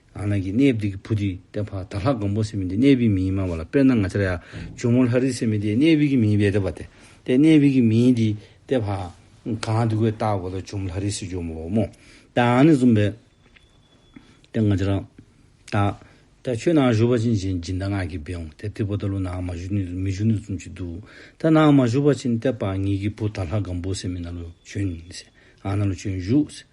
Speaker 1: ང་རང་གིས་གནས་བདེ་གི་བུ་དེ་ལྟ་བ་དག་ལྷག་གང་པོ་སེམས་མི་བདེ་གནས་བི་མི་ཡིན་སྨྲ་བ་ལ་དཔེར་ན་ང་ཅར་ཡ་ཇོ་མོ་ལྷ་རིགས་སེམས་མི་བདེ་གནས་བི་གི་མི་ཡིན་བའི་ལྟ་བ་སྟེ། དེ་གནས་བི་གི་མི་ཡིན་དེ་ལྟ་བ། གང་དེ་ཀོས་བཏགས་གོ་ལ་ཇོ་མོ་ལྷ་རིགས་སེ་ཇོ་མོ་བོ་མོ། དང་ནི་བཟུང་བས། དེ་ང་ཅར། ད། ད་ཁྱོད་ནང་བཞུགས་པ་ཕྱིན་ཅིང་སྦྱིན་བདག་ངག་གིས་འབེའོ་དེ་ལྟེ་བུ་ད་ལོ་ནང་མ་བཞུགས་ནས་མི་བཞུགས་ནས་ཙུམ་གཅིག་འདུག་ད་ནང་མ་བཞུགས་པ་ཕྱིན་ལྟེ་བ་ངེད་ཀྱི་བུ་དག་ལྷག་གང་པོ་སེམས་མི་ན་ལོ་བྱོན། ཨ་ན་ལོ་བྱོན་བཞུགས།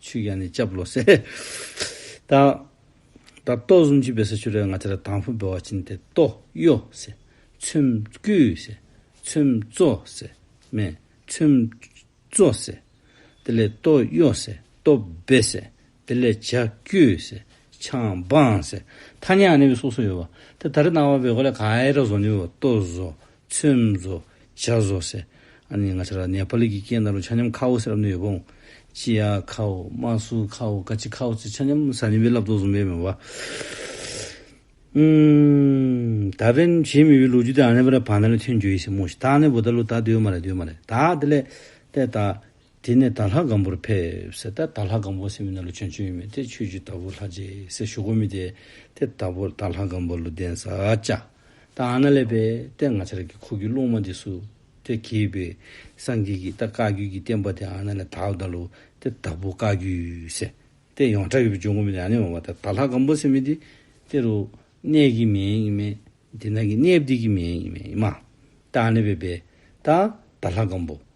Speaker 1: ཆུ་ཡང་ནི་ལྕགས་ལོ་སེ། དང། ད་གཏོ་གསུམ་ཆུ་བེ་སེ་ཆུ་རེ་ང་ཆ་ར་དང་ཕུ་བེ་བ་བྱིན་ཏེ་གཏོ་གཡོ་སེ། ཚོན་བསྐུས་སེ། ཚོན་བཙོ་སེ། མེ། ཚོན། བཙོ་སེ། དེ་ལས་གཏོ་གཡོ་སེ། གཏོ་བེ་སེ། དེ་ལས་བྱ་བསྐུས་སེ། ཆང་སྦངས་སེ། ཐ་ནི་ཨ་ནི་བི་སོགས་སུ་ཡོད་བ། དེ་ད་རི་ནང་བ་བེ་གོ་ལ་ག་ཨེ་ར་བཟོ་ནི་བེ་བ་གཏོ་བཟོ། ཚོན་བཟོ། བྱ་བཟོ། ཟེར། ཨ་ནི་ང་ཆ་ར་ནེ་པ་ལི་གི་སྐད་ནང་རུ་ཆ་མཉམ་ཁའོ་ཟེར་རབ་གནས་ཡོད་པོང། ཅི་ཡ་ཁའོ། མ་སུ་ཁའོ། ཀ་ཅི་ཁའོ་ཚོས་ཆ་མཉམ་ཟ་ནི་བའི་ལབ་རྡོ་བཟུང་པའི་མེ་བ། ད་ཕན་བྱེད་མི་བའི་ལོ་རྒྱུས་དེ་ཨ་ནེ་པ་ར་བ་ན་ལས་ཐོན་རྒྱུ་ཡིན་སེ་མོ་ཞི་ད་ཨ་ནེ་བོ་ད་ལོ་ད་དེ་ཡོད་མ་རེད་དེ་ཡོད་མ་རེད་ད་དེ་ལས་དེ་ད། དེ་ནས་དར་ལྷ་སྒམ་པོར་ཕེབས། ད་དར་ལྷ་སྒམ་པོ་སེ་མི་ན་ལོ་ཆོན་ཆོན་ཡོད་མེད་དེ་ཆོས་རྒྱུད་དར་པོ་ལྷ་རྗེ་སེ་ཞོ་ཀོ་མི་དེ་དེ་དར་པོ་དར་ལྷ་སྒམ་པོ་ལོ་གདན་ས་བཅའ། ད་ཨ་ན་ལས་པས་དེ་ང་ཆར་གི་ཁོ་གི་རླུང་མ་དེ་སུ་དེ་གྱེས་པས་སངས་རྒྱས་ཀྱི་ད་བཀའ་རྒྱུད་ཀྱི་བསྟན་པ་དེ་ཨ་ན་ལས་དར་བདའ་ལོ་དེ་དར་པོ་བཀའ་རྒྱུད་སེ་དེ་ཡོངས་གྲགས་ཡོད་པས་ཅོན་ཀོ་མི་དེ་ཨ་ནེ་འོང་བ་ད་དར་ལྷ་སྒམ་པོ་སེ་མི་དེ་དེ་རུ་གནས་གི་མེད་ཡིན་མེད་དེ་ན་གི་གནས་བསྡིག་གི་མེད་ཡིན་མེད་ཡིན་མ་ད་ཨ་ནེ་བས་པས་ད་དར་ལྷ་སྒམ་པོ།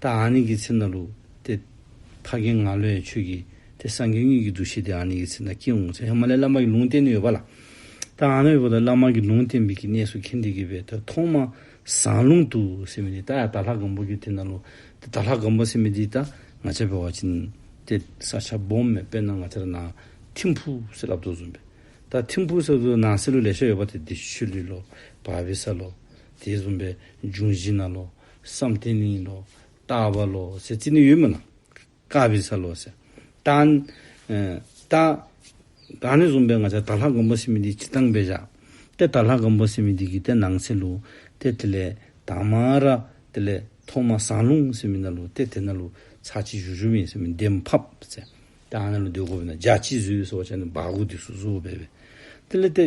Speaker 1: ད་ཨཱ་ནི་ཀི་ཚེ་ན་ལུག་སྟེ། ཕ་རྒན་ང་ལོའི་ཆོས་ཀྱི་སྟེ་སངས་རྒྱས་གཉིས་ཀྱི་འདུ་ཤེས་དེ་ཨཱ་ནི་ཀི་ཚེ་ན་སྐྱེ་འོང་ཚེ་ཧི་མ་ལའི་བླ་མ་གི་ལུང་བསྟན་ནི་ཡོད་པ་ལ། ད་ཨཱ་ནི་ཀི་བོ་ད་བླ་མ་གི་ལུང་བསྟན་པའི་གི་གནས་སུ་ཁེན་ཏི་ཀི་བས་ད་ཐོག་མ་ཟངས་ལུང་དུ་སེ་མི་དི་ད་ཡ་ད་ལྷ་སྒམ་པོ་གི་དེ་ན་ལུག་སྟེ་ད་ལྷ་སྒམ་པོ་སེ་མི་དི་ད་ང་ཆ་བེ་བ་ཅི་ནི་ཏེ་ས་ཆ་སྦོམ་མེ་དཔེ་ན་ང་ཆ་ར་ན་ཐིམ་ཕུ་སེ་ལབ་དོ་ཟུམ་པེ་ད་ཐིམ་ཕུ་སེ་ལོ་ན་སེ་ལུ་ལེ་ཤ་ཡོད་པ་དེ་དེ་ཤུ་ལི་ལོ་བ་བི་ས་ལོ་དེ་ཟུམ་པེ་འབྱུང་བཞི་ན་ལོ། བསམ་གཏན་ནི་ཡིན་ནོ། རྟག་བ་ལོ། སེ་ཙི་ནི་ཡོད་མི་ལང། ཀ་བི་ས་ལོ། སེ། ཏན། ཏ། ག་ནི་བཟུང་པའི་ང་ཆ་ད་ལྷ་མགོན་པོ་སེ་མི་དི་ཅི་ཏང་བེ་ཞག། ཏེ་ད་ལྷ་མགོན་པོ་སེ་མི་དི་གི་ཏེ་ནང་སེ་ལུ། ཏེ་དེ་ལས། ད་མ་ར། དེ་ལས། ཐོག་མ་ཟངས་ལུང་སེ་མི་ན་ལུ་ཏེ་དེ་ན་ལུ། ཚ་ཆི་བཞུ་བཞུ་བིན་སེ་མི་དེ་མ་ཕབ། སེ། ཏན་ན་ལུ་དེ་གོ་བི་ན་རྒྱ་ཆི་བཟུ་བི་སོ་བ་ཆ་ནི་བ་གུ་དི་སུ་བཟུ་བོ་བེ་བེ། དེ་ལས་ཏེ།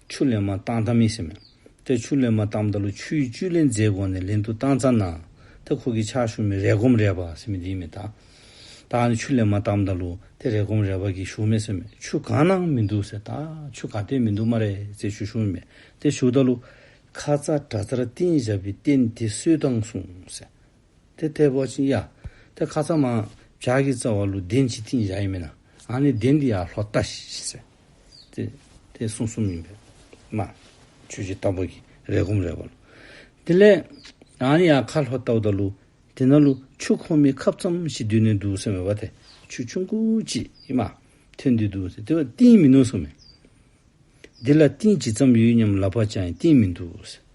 Speaker 1: ཆུ་ལེན་མ་བཏང་ཐ་མི་ཟེར་མོད། དེར་ཆུ་ལེན་མ་བཏང་བདག་ལ་ཆུའི་བཅུད་ལེན་རྫས་དགོས་ནས་ལེན་དུ་བཏང་ཚར་ན། དེ་ཁོ་གི་ཆག་ཞུགས་མེད་རེ་སྒོམ་རེ་བ་ཟེར་མི་དེའི་མི་དང། བདག་ནི་ཆུ་ལེན་མ་བཏང་བདག་ལུ་དེ་རེ་སྒོམ་རེ་བ་གི་ཞུགས་མེད་ཟེར་མོད་ཆུ་གང་ན་མི་འདུག་ཟེར་བདག་ཆུ་ག་དེ་མི་འདུག་མ་རེད་ཟེར་ཆུ་ཞུགས་མེད་དེ་ཞུགས་བདག་ལུ། ཁ་ཚ་དགྲ་ཚར་བསྟན་བཞག་པའི་རྟེན་དེ་སུས་བཏང་གསུངས་ཟེར། དེ་ཐེ་བོ་ཆེན་ཡ། དེ་ཁ་ཚ་མ། བྱ་གི་རྩ་བ་ལུ་གདན་གྱི་ཐིན་བྱ་ཡི་མེ་ན། ཨ་ནི་གདན་འདི་ཡ་ལྷོ་རྟ་ཞེས་ཟེར། དེ། དེ་སྲུང་གསུམ་ཡིན་པས། མ། ཆོས་ཀྱི་རྟ་ཕོ་གི་རེ་སྒོམ་རེ་བ་ལུ། དེ་ལས། ཨ་ནི་ཡ་ཁ་ལྷོ་རྟ་ཨུཏ་ལུ། དེ་ན་ལུ། ཆུ་ཁོ་མི་ཁབ་ཙམ་ཞིག་བསྡུས་ནས་འདུག་ཟེར་བས་བ་དེ། ཆུ་ཆུང་ཁུ་གཅིག་ཡིན། མ། ཐོན་དུས་འདུག་ཟེར་དེ་བས་བསྟན་མི་ནུས་སོ་མེ། འདི་ལ་བསྟན་ཇི་ཙམ་ཡོད་སྙམ་ལབ་པ་ཅང་ཡིན་བསྟན་མི་འདུག་ཟེར།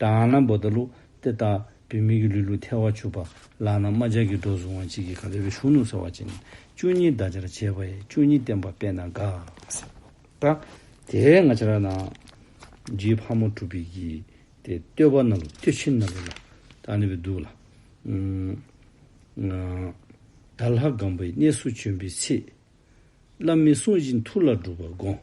Speaker 1: དང་ནམ་བོ་ད་ལུགས་ཏེ་ལྟ་བུའི་མིག་གི་ལུས་ལུགས་ཐལ་བ་བྱུགས་པ་ལག་ན་རྨ་བྱ་གི་སྒྲོ་གཟུང་བ་གཅིག་གིས་ག་ལེ་བའི་གཞུང་ནུབ་ཟེར་བ་ཅན་བཅུ་གཉིས་བདག་ཅག་བྱེད་པ་ཡི་བཅུ་གཉིས་བསྟན་པ་དཔེ་ན་འགའ། ཟེར་བ་དེའི་ང་ཅག་ན་རྗེའི་ཕག་མོ་གྲུ་བི་གིས་ཏེ་བསྟོད་པ་ན་ལུགས་བསྟོད་ཕྱིར་ན་ལུགས་ལ་དག་ནི་བའི་འདུག་ལ། བདག་ལྷ་སྒམ་པོའི་གནས་སུ་བྱོན་པའི་ཚེ། བླ་མའི་གསུང་བཞིན་ཐུགས་ལ་སྒྲུབ་པར་དགོངས།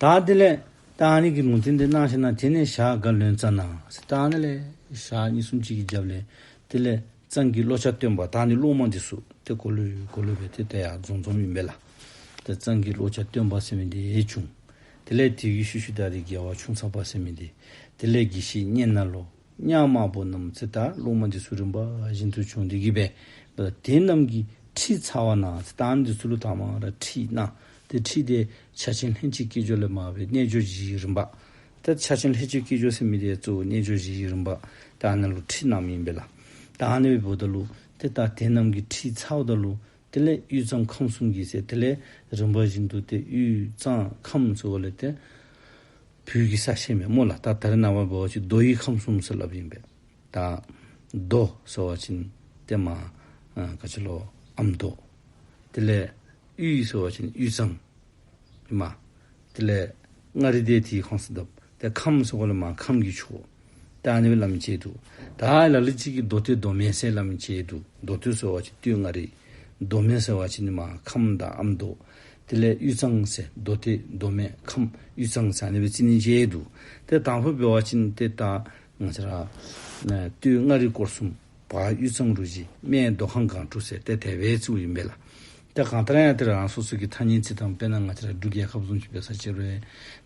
Speaker 1: ད་དེ་ལས། རྟགས་གཉིས་ཀྱི་ལུང་ཚིག་འདི་སྣང་ཤེས་ན་དེ་ནས་ཞག་འགའ་ལོན་རྩ་ནའོ། རྟགས་ནི་ལས། ཞག་གཉིས་གསུམ་གཅིག་གིས་བརྒྱབ་ལས། དེ་ལས། གཙང་གི་བློ་ཆ་བཏོན་པ་དག་ནི་བླུན་མ་འདི་སུ། དེ་གོ་ལོས་གོ་ལོས་པས་དེ་ད་ཡག་རྫོང་རྫོང་མིན་པས་ལ། དེ་གཙང་གི་བློ་ཆ་བཏོན་པ་སེམས་མི་བདེ་བྱུང། དེ་ལས་དུས་ཀྱི་ཤུ་ཤུ་དག་རིགས་རྒྱལ་བ་ཆུང་ཚགས་པ་སེམས་མི་བདེ། དེ་ལས་དགེ་བཤེས་སྙན་རྣ་ལོ། གཉའ་དམར་པོ་རྣམས་ཚེ་ལྟར་རླུང་མ་འདི་སུ་རིམ་པ་བཞིན་དུ་བྱུང་སྟེ་གྱིས་པས་ལ་དེ་རྣམས་ཀྱི་ཁྲིད་ཚ་བ་ན་ཚེ་ལྟར་འདི་སུ་ལུས་ཐ་མར་ཁྲིད་ན་དེ་ཁྲིད་དེ་ཕྱག་ཆེན་ལྷན་ཅིག་སྐྱེས་སྦྱོར་ལས་མ་བའི་རྣལ་འབྱོར་བཞི་ཡི་རིམ་པ། དེར་ཕྱག་ཆེན་ལྷན་ཅིག་སྐྱེས་སྦྱོར་སེམས་མི་དེའི་གཙོ་བོའི་རྣལ་འབྱོར་བཞི་ཡི་རིམ་པ། དེ་ཨ་ནི་ལུས་ཁྲིད་རྣམས་ཡིན་པས་ལ་དེ་ཨ་ནི་བའི་བུ་དང་ལུས་དེ་ལྟར་དེ་རྣམས་ཀྱི་ཁྲིད་ཚ་བ་དང་ལུས་དེ་ལས་དབུས་གཙང་ཁམས་གསུམ་གྱི་ཟེར་དེ་ལས་རིམ་པ་བཞིན་དུ་དེ་དབུས་གཙང་ཁམས་སུ་བ་ལས་དེ། བོད་ཀྱི་ས་ཆེན་མེ་མོ་ལ་ད་ལྟར་ན་བ་བོ་ཆེ་རྡོ་ཡི་ཁམས་གསུམ་ཟེར་ལབ་ཡིན་པས། ད། རྡོ་ཟེར་བ་ཆེན་དེ་མ། ཀ་ཆེ་ལོ་ཨམ་རྡོ། དེ་ལས་དབུས་ཟེར་བ་ཆེན་དབུས་གཙང། མ། དེ་ལས། མངའ་རིས་དེ་དེའི་ཁོངས་སུ་གདབ། དེ་ཁམས་སུ་གོ་ལ་མ་ཁམས་ཀྱི་ཆུ། དེ་ཨ་ནི་བའི་ལམ་བཅད་དུ། དེ་ཨ་ཨི་ལ་ལི་གཅིག་གི་མདོ་སྟེ་མདོ་མེད་སའི་ལམ་བཅད་དུ་མདོ་སྟོད་ཟེར་བ་གཅིག་སྟོད་མངའ་རིས། མདོ་མེད་ཟེར་བ་གཅིག་ནི་མ་ཁམས་དང་ཨ་མདོ། དེ་ལས་དབུས་གཙང་སའི་མདོ་སྟེ་མདོ་མེད་ཁམས་དབུས་གཙང་སའི་ཨ་ནི་བའི་རྩིས་ནི་བཅད་དུ། དེ་དང་པོ་བོད་བ་གཅིག་ནི་སྟེ་དང། སྟོད་མངའ་རིས་སྐོར་གསུམ། བ་གཡུ་ཚང་རུ་བཞི་སྨད་རྡོ་ཁང་སྒང་དྲུག་ཟེར་ཏེ་དལ་བའི་ཚིག་འུ་ཡིན་པས་ལ། དེ་གང་ལྟར་ཡང་དེར་རང་སོ་སོ་གི་ཐ་སྙད་ཚིག་དང་དཔེར་ན་ང་ཚ་ར་འབྲུག་རྒྱལ་ཁབ་རྫོང་གི་བེ་ས་ཅེ་རོའི་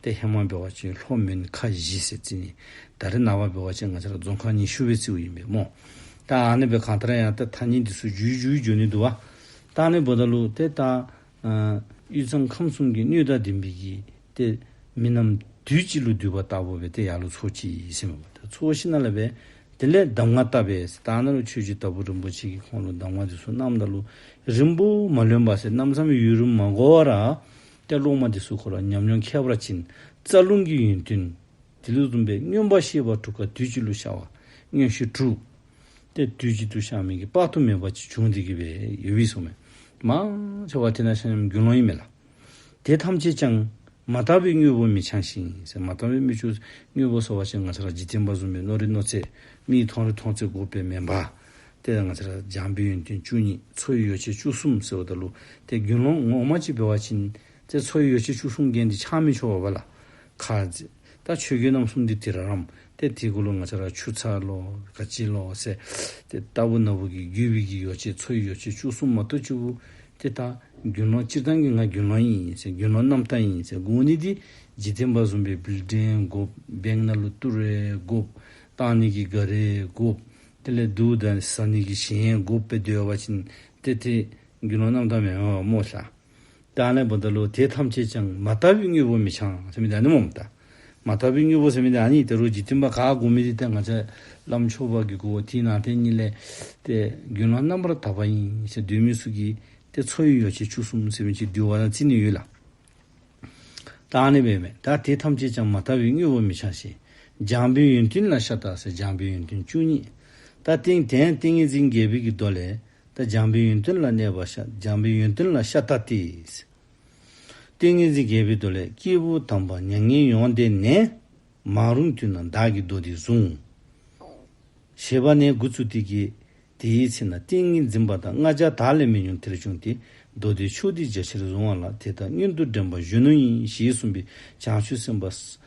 Speaker 1: ཏེ་ཧེ་མ་བེ་བ་ཅེ་ལྷོ་མོན་ཁ་བཞི་ཟེར་ཚིག་ནི་ད་རེ་ན་བ་བེ་བ་ཅེ་ང་ཚ་ར་རྫོང་ཁང་ཉི་ཤུ་བའི་ཚིག་འུ་ཡིན་པས་རྨོ། ཏའང་ནི་བེ་གང་ལྟར་ཡང་ཏེ་ཐ་སྙད་འདི་སུ་རྒྱུའི་རྒྱུའི་རྒྱུ་ནི་དུ་བ། ཏའང་ནི་བོ་ད་ལུག་ཏེ་ཏའ། གཡུལ་ཚང་ཁམས་གསུམ་གྱི་སྣོད་དག་ལྡན་པའི་ཡིད་དེ། མི་རྣམས་དུས་གཅིག་ལུས་འདུལ་བ་ལྟ་བུ་བས་དེ་ཡར་ལ་ཚོགས་ཀྱི་ཡིད་སེམས་བ་དང་ཚོགས་ཤིང་ན་ལ་བས། དེ་ལས་གདམས་ངག་བཏབ་པས་དག་ན་ལ་ཆོས་རྒྱུད་ལྟ་བུ་རིན་པོ་ཆེ་གི་ཁོང་ལོ་གདམས་ངག་འདི་སོ་ནམ་ད་ལོ། རིང་པོ་མ་ལོན་པ་ཟེར་རྣམ་བསམ་ཡུལ་རུ་མ་གོ་བར། ཀྱ་ལུགས་མ་འདི་སུ་གོ་ལ་ཉམས་མྱོང་ཁྱད་པར་ཅན། རྩ་རླུང་གི་ཡུན་ཐུན། དེ་ལུགས་བཟླུམས་པའི་སྨྱོན་པ་ཤེས་པ་དྲུག་ག་དུས་གཅིག་ལུས་ཤར་བ་སྨྱོན་བཞི་དྲུག། སྟེ་དུས་གཅིག་ཏུ་ཤར་མི་དགེ་དཔག་ཏུ་མེད་པ་གཅིག་བྱུང་དེ་གི་བའི་ཡོད་དབྱིངས་སོ། མ་ཤར་བ་དེ་ན་ཤར་ཉམས་རྒྱུན་ལོང་ཡིན་མེད་ལ། དེ་ཐམས་ཅད་ཀྱང། མ་ལྟ་བུའི་དངོས་པོ་མི་འཆང་ཞིང། མ་ལྟ་བའི་སྨིག་ཆུ། དངོས་པོ་སོ་བ་ཅན་ང་ཚ་ར་འཇིག་རྟེན་པ་བཟུང་བའི་རྣོ་རེ་རྣོ་ཚད། མིག་མཐོང་རེ་མཐོང་ཚད་སྒོ་སྤེལ་མེད་འབའ། དེ་ལ་ང་ཚ་ར་སྦྱང་པའི་ཡོན་ཏན་བཅུ་གཉིས་མཚོ་ཡི་ཡོ་བྱད་བཅུ་གསུམ་ཟེར་བ་དང་ལུགས་དེ་རྒྱུན་ལོང་ངོགས་མ་གཅིག་བེ་བ་ཅན། དེ་མཚོ་ཡི་ཡོ་བྱད་བཅུ་གསུམ་རྒྱན་དེ་ཆགས་མི་ཆོག་བ་བ་ལ། ཁ། ད་ཆོས་རྒྱུད་རྣམ་གསུམ་འདི་དེ་ར་རམ། ཏེ་དེ་ཀུ་ལུ་ང་ཆ་ར་ཆུ་ཚ་ལོ་ག་ཅི་ལོ་སེ། ཏེ་ལྟ་བུ་ན་བུ་གི་རྒྱུད་བི་གི་ཡོ་བྱད་མཚོ་ཡི་ཡོ་བྱད་བཅུ་གསུམ་མ་ཏོ་བཅུ་བུ། ཏེ་ད་རྒྱུན་ལོངས་སྤྱིར་བཏང་གི་ང་རྒྱུན་ལོངས་ཡིན་སེ་རྒྱུན་ལོངས་རྣམ་དག་ཡིན་སེ་དགུ་བོ་ནི་དེ་ཇི་བསྟན་པ་ཟུམ་པའི་བིལ་བྲན་དགུ། བེང་ན་ལུ་ཏུ་རའི་དགུ། ཏང་ནི་གི་ག་རའི་དགུ། ཏེ་ལེ་དུ་དཱ་ས་ནི་གི་གཞན་དགུ་བེ་འདོད་བ་བྱིན། ཏེ་དེ་རྒྱུན་ལོངས་རྣམ་དག་མེ་མ་བ་མོ་ལྷ། དང་ལེན་པོ་འདི་ལོ་དེ་ཐམས་ཅད་ཅིང་མ་ལྟ་བུའི་དངོས་པོ་མི་འཆང། སེམས་མེད་དང་ནི་མོངས་མེད། མ་ལྟ་བུའི་དངོས་པོ་སེམས་མེད་དང་ནི་དེ་རོ་གཅིག་མཐུན་པ་ག་གོ་མི་རིག་སྟེ་ང་ཚེ་ལམ་མཆོག་བར་གྱི་དགོས་པ་དེའི་ནང་རྟེན་གཉིས་ལས། ཏེ། རྒྱུན་ལམ་རྣམ་པར་དག་པ་ཡིན་ཞེས་འདོད་མི་སྲུ་གི། ཏེ་མཚོ་ཡི་ཡོ་བྱད་ཆུ་གསུམ་སེམས་ཀྱིས་བསྡུས་བ་དང་རྩི་ནི་ཡོད་ལ། དང་ནི་བས་མེད་དང་དེ་ཐམས་ཅད་ཅིང་མ་ལྟ་བུའི་དངོས་པོ་མི་འཆང་ཞིང། སྦྱངས་པའི་ཡོན་ཏན་ལ་ཤ་སྟག་སེ་སྦྱངས་པའི་ཡོན་ཏན་བཅུ་གཉིས། ད་ཏིང་དན་ཏིང་ངེ་འཛིན་རྒྱལ་བོད་ཀྱི་མདོ་ལས། ད་འཇམ་པའི་ཡོན་ཏན་ལ་གནས་པ་ཤ་འཇམ་པའི་ཡོན་ཏན་ལ་ཤ་ཏཱ་ཏི། ཏིང་ངེ་འཛིན་རྒྱས་པའི་མདོ་ལས་སྐྱེས་བུ་དམ་པ་མྱ་ངན་ཡོངས་འདས་ནས། མ་རུངས་དུས་ན་བདག་གི་མདོ་འདི་བཟུང། ཞེས་པ་ནས་དགུ་ཚུལ་ཏིག་གི། དེའི་ཚེ་ན་ཏིང་ངེ་འཛིན་པ་དང་ལྔ་ཅར་དག་ལས་མི་ཉུང་དེར་བྱུང་སྟེ། མདོ་སྡེའི་ཕྱོགས་འདི་རྒྱ་ཆེར་བཟུང་བ་ལ་དེ་དག་གཉེན་དུ་འདྲེན་པ་གཞོན་ནུ་ཡིན་ཞེས་གསུངས་པའི་བྱང་ཆུབ་སེམས་དཔའ།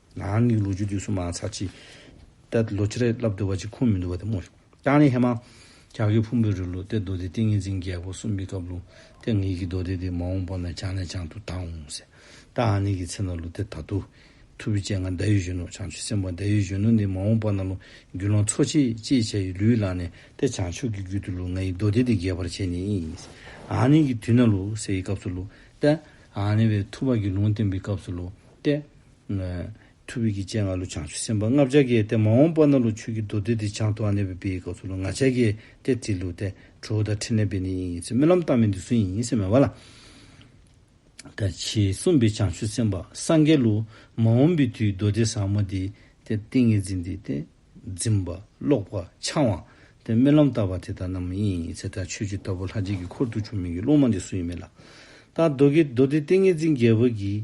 Speaker 1: ནང་མིག་ལོ་རྒྱུས་དུས་སུ་མང་ཚགས་ཀྱིས། ལྟད་དུ་ལོ་ཅི་རེད་ལབ་འདུག་བ་ཅིག་ཁུངས་མི་འདུག་བ་དེ་མོ། ཀྱང་ལེ་ཧེ་མ། རྒྱ་གའི་ཕུང་པོའི་རི་ལུ་སྟེ་རྡོ་སྡེ་ཏིང་ངེ་འཛིན་རྒྱལ་པོ་སུམ་པའི་སྐབས་ལུ་སྟེ་ངེད་ཀྱི་རྡོ་སྡེ་དེ་མ་འོངས་པོ་ན་བྱང་ནས་བྱང་དུ་དྭངས་འོང་ཟེར། ད་ཨ་ནེ་ཀྱི་མཚན་ལ་ལུ་སྟེ་ད་དུ། ཐུ་བུ་ཅན་ང་མདའ་ཡུལ་གཞོན་ནུ་བྱང་ཆུ་སེམས་དཔའ་མདའ་ཡུལ་གཞོན་ནུ་འདི་མ་འོངས་པོ་ན་ལུ་རྒྱུ་ལོངས་འཚོ་བྱེད་ཅེས་བྱ་ཡི་ལུའི་ལག་ནས་ཏེ་བྱང་ཆུབ་ཀྱི་རྒྱུད་དུ་ལུ་ང་ཡི་རྡོ་སྡེ་འདི་རྒྱས་པར་བྱས་ནས་ཨ་ནེ་ཀྱི་དུས་ན་ལུ་སེ་ཡི་སྐབས་སུ་ལུ་སྟེ། ཨ་ནེ་བའི་ཐུ་བ་ཀྱི་ལུང་བསྟན་པའི་སྐབས་སུ་ལུ་སྟེ། ཐུབ་བྷིད་ཀྱི་སྤྱན་སྔ་ལོ་བྱང་ཆུབ་སེམས་དཔའ་ལྔ་བརྒྱ་བརྒལ་ཏེ་མ་འོངས་པ་ན་ལོ་ཆོས་ཀྱི་མདོ་སྡེ་འདི་བྱང་དུ་ཨ་ནེ་བི་བི་ཡི་སྐབས་སུ་ལོ་ང་བྱ་བརྒྱད་སྟེ་དེའི་ལུགས་ཏེ་ཁྲོ་བོ་དང་ཕྲིན་ལས་བི་ནི་ཡིན་ཡིན་ཚེ་རྨི་ལམ་རྟགས་མི་འདི་སུ་ཡིན་ཡིན་སེམས་མེད་པ་ལ། དང་ཕྱིས་གསུངས་པའི་བྱང་ཆུབ་སེམས་དཔའ་སངས་རྒྱས་ལུགས་མ་འོངས་པའི་དུས་མདོ་སྡེ་ཟབ་མོ་འདི་སྟེ་ཏིང་ངེ་འཛིན་འདི་སྟེ། འཛིན་པ། ཀློག་པ། འཆང་བ། སྟེ་རྨི་ལམ་ལྟ་བ་དེ་དག་རྣམས་ཡིན་ཡིན་ཚེ་དང་ཆོས་བཅུ་ལྟ་བུ་ལྷ་རྗེ་གི་འཁོར་དུ་འབྱུང་མིན་གྱི་ལུགས་མ་འདི་སུ་ཡིན་མེད་ལ། དང་མདོ་དགེ་མདོ་སྡེ་ཏིང་ངེ་འཛིན་རྒྱལ་བོ་གྱིས་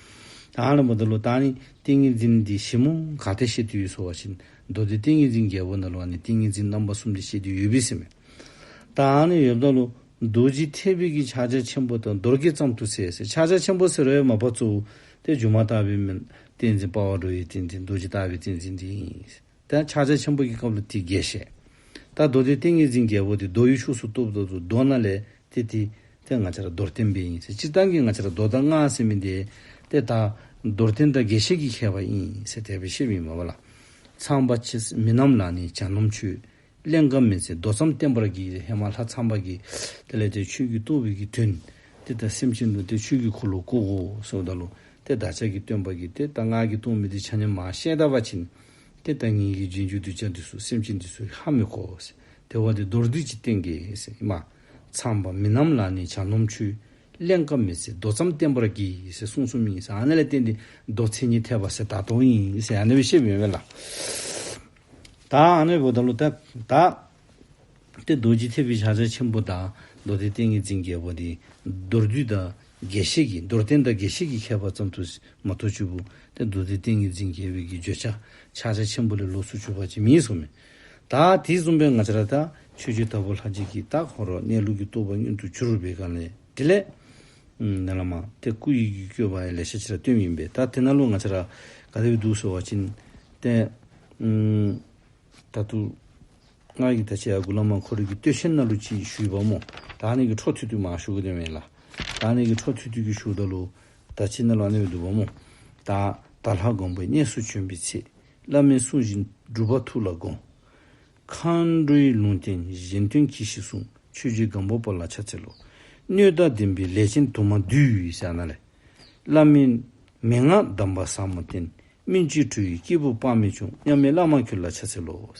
Speaker 1: ཨ་ལ་མོ་ད་ལོ་ཏཱ་ནི་ཏིང་ངེ་འཛིན་འདི་ཞིབ་མོ་ག་དེ་བཤད་དུས་ཡོད་སོ་བ་བཞིན་མདོ་སྡེ་ཏིང་ངེ་འཛིན་རྒྱལ་པོ་ན་ལོ་ནི་ཏིང་ངེ་འཛིན་རྣམ་པ་གསུམ་དེ་བཤད་དུས་ཡོད་བི་སི་མེ་ཏཱ་ནི་ཡོད་བདག་ལོ་རྡོ་རྗེ་མཐའི་བི་གི་ཕྱག་རྒྱ་ཆེན་པོ་དང་རྡོར་སྐད་ཙམ་དུ་ཟེར་ཟེར་ཕྱག་རྒྱ་ཆེན་པོ་ཟེར་བའི་མ་པ་གཙོ་བོ་དེ་སྒྱུ་མ་ལྟ་བུའི་མི་བསྟན་འཛིན་དཔའ་བ་རོལ་བའི་བསྟན་འཛིན་རྡོ་རྗེ་ལྟ་བུའི་བསྟན་འཛིན་འདི་ཡིན། དེ་ཡང་ཕྱག་རྒྱ་ཆེན་པོ་གྱི་སྐབས་ལ་དེའི་རྒྱས་བཤད། ད་རྡོ་དེའི་ཏིང་ངེ་འཛིན་རྒྱལ་པོ་དེ་རྡོ་ཡི་ཤུགས་སུ་གཏུབས་ལ་དུ་རྡོ་ན་ལས་ཏེ་དེ་དེ་ང་ཅ་ར་རྡོར་བསྟན་པའི་ཡིན་ཟེར་སྤྱིར་བཏང་གི་ང་ཅ་ར་རྡོ་དང་སྔགས་སེམས་མིན་ཏེ། དེ་དག་རྡོར་བསྟན་དང་རྒྱས་བཤད་ཀྱིས་ཁྱད་པ་ཡིན་ཟེར་དད་པའི་ཤེས་པ་ཡིན་མོད་ལ། ཚངས་པ་མི་རྣམས་ལ་ནི་བྱ་སྣོམ་ཆུ། གླེང་སྐབས་མི་ཚེ་མདོ་ཙམ་བསྟན་པར་གྱིས་ཧེ་མ་ལྷ་ཚངས་པ་གྱིས། དེ་ལས་དེ་ཆོས་རྒྱུད་བཏུལ་བའི་གྱི་དོན། དེ་ལྟར་སེམས་ཅན་ལུས་དེ་ཆོས་རྒྱུད་འཁོར་ལོ་བཀུག། སོགས་བཟླ་ལུང་སྟེ་བདག་ཅག་གིས་སྟོན་པར་གྱིས་དེ་ལྟར་སྔགས་ཀྱི་ལྟུང་མི་དེ་ཆ་ཉམས་མ་ཤེས་ལྟ་བ་བྱིན། དེ་ལྟར་ཉིད་ཀྱི་རྗེས་འཇུག་གདུལ་བྱ་འདི་སུ་སེམས་ཅན་འདི་སུ་ཧ་མི་གོ། དེ་བ་དེ་མདོར་བསྡུས་ཀྱི་སྟེང་གི། ཧེ་མ། ཚངས་པ་མི་རྣམས་ལ་ནི་བྱ་ནོམ་ཆུ། གླེང་སྐབས་མི་ཚེ་མདོ་ཙམ་བསྟན་པར་གྱིས་གསུང་གསུམ་ཡིན། ཨ་ནེ་ལ་བརྟེན་ཏེ་མདོ་མཚན་ཉིད་འཐད་པ། ད་དོ་ཡིན། ཨ་ནེ་བའི་ཤེས་པའི་ཡོན་བས་ལ། དང། ཨ་ནུའི་བུ་དང་ལུ་ཏ྄་དང། སྟེ་རྡོ་རྗེ་ཐེག་པའི་ཕྱག་རྒྱ་ཆེན་པོ་དང་མདོ་སྡེའི་ཏིང་ངེ་འཛིན་རྒྱལ་པོ་འདི། མདོར་བསྡུས་དང་རྒྱས་བཤད་ཀྱི་མདོར་བསྟན་དང་རྒྱས་བཤད་ཀྱི་ཁྱད་པར་ཙམ་དུ་མ་ཐོ་བཅུ་པོ་སྟེ་མདོ་སྡེའི་ཏིང་ངེ་འཛིན་རྒྱལ་པོའི་གྱི་བརྗོད་བྱ་ཕྱག་རྒྱ་ཆེན་པོ་ལས་ལོགས་སུ་གཅོད་པ་ཅི་མིན་སོགས་མེད། དང། དེ་གསུམ་པའི་ངག་འཆལ་དང་ཆོས་སྤྱོད་ལྟ་བུ་ལྷ་རྗེ་ཀྱི་རྟགས་ཧོ་རོག་གནས་ལུགས་ཀྱི་རྟོགས་པ་མྱུར་དུ་འཇུ་རུ་བའི་གང་ལས་འདི་ལས། ནད་ལ་མ་བལྟས་སྐུ་ཡི་རྒྱུད་བསྐྱོད་པ་ཡི་ལས་བྱེད་ཕྱི་ར་ལྟོས་ཡིན་པས་ད་དེ་ན་ལོ་ང་ཚ་ར་ག་དེ་བས་སྡུག་ཟེར་བ་ཅི་ནས་ད་དུ། སྔར་གྱི་ད་ཆའི་ཨ་ཁུ་བླ་མ་ཁོ་རེ་གི་སྟོད་ཆེན་སྣ་ལུ་ཅིག་ཞུས་པ་མོ་ད་ནས་ཀྱི་འཕྲོ་ཐུད་ཐུད་མ་ཞུ་གི་དོན་མེད་ལ། ད་ནས་ཀྱི་འཕྲོ་ཐུད་ཐུད་ཀྱི་ཞུ་ད་ལོ་ད་ཆའི་སྣ་ལུ་ཨ་ནེ་བས་སྡུག་པ་མོ་ད། ད་ལྷ་དགོངས་པའི་གནས་སུ་བྱོན་པའི་ཚེ་བླ་མའི་གསུང་བཞིན་སྒྲུབ་པ་ཐུགས་ལ་དགོངས། མཁའ་འགྲོའི་ལུང་བསྟན་གཞན་དོན་གྱིས་ཤིག་གསུང། ཆོས་རྗེ་སྒམ་པོ་པོ་ལ་ཕྱག་འཚལ་ལོ། སྣོད་དག་བདེན་པའི་ལས་ཅན་དུ་མ་འདུས། བྱ་ན་ལས། བླ་མེད་མན་ངག་གདམས་པ་ཟབ་མོ་བསྟན། སྨིན་བྱེད་དྲུག་གི་སྐྱེས་བུ་དཔག་མེད་བྱུང། མཉམ་མེད་བླ་མ་ཁྱོད་ལ་ཕྱག་འཚལ་ལོ། དག་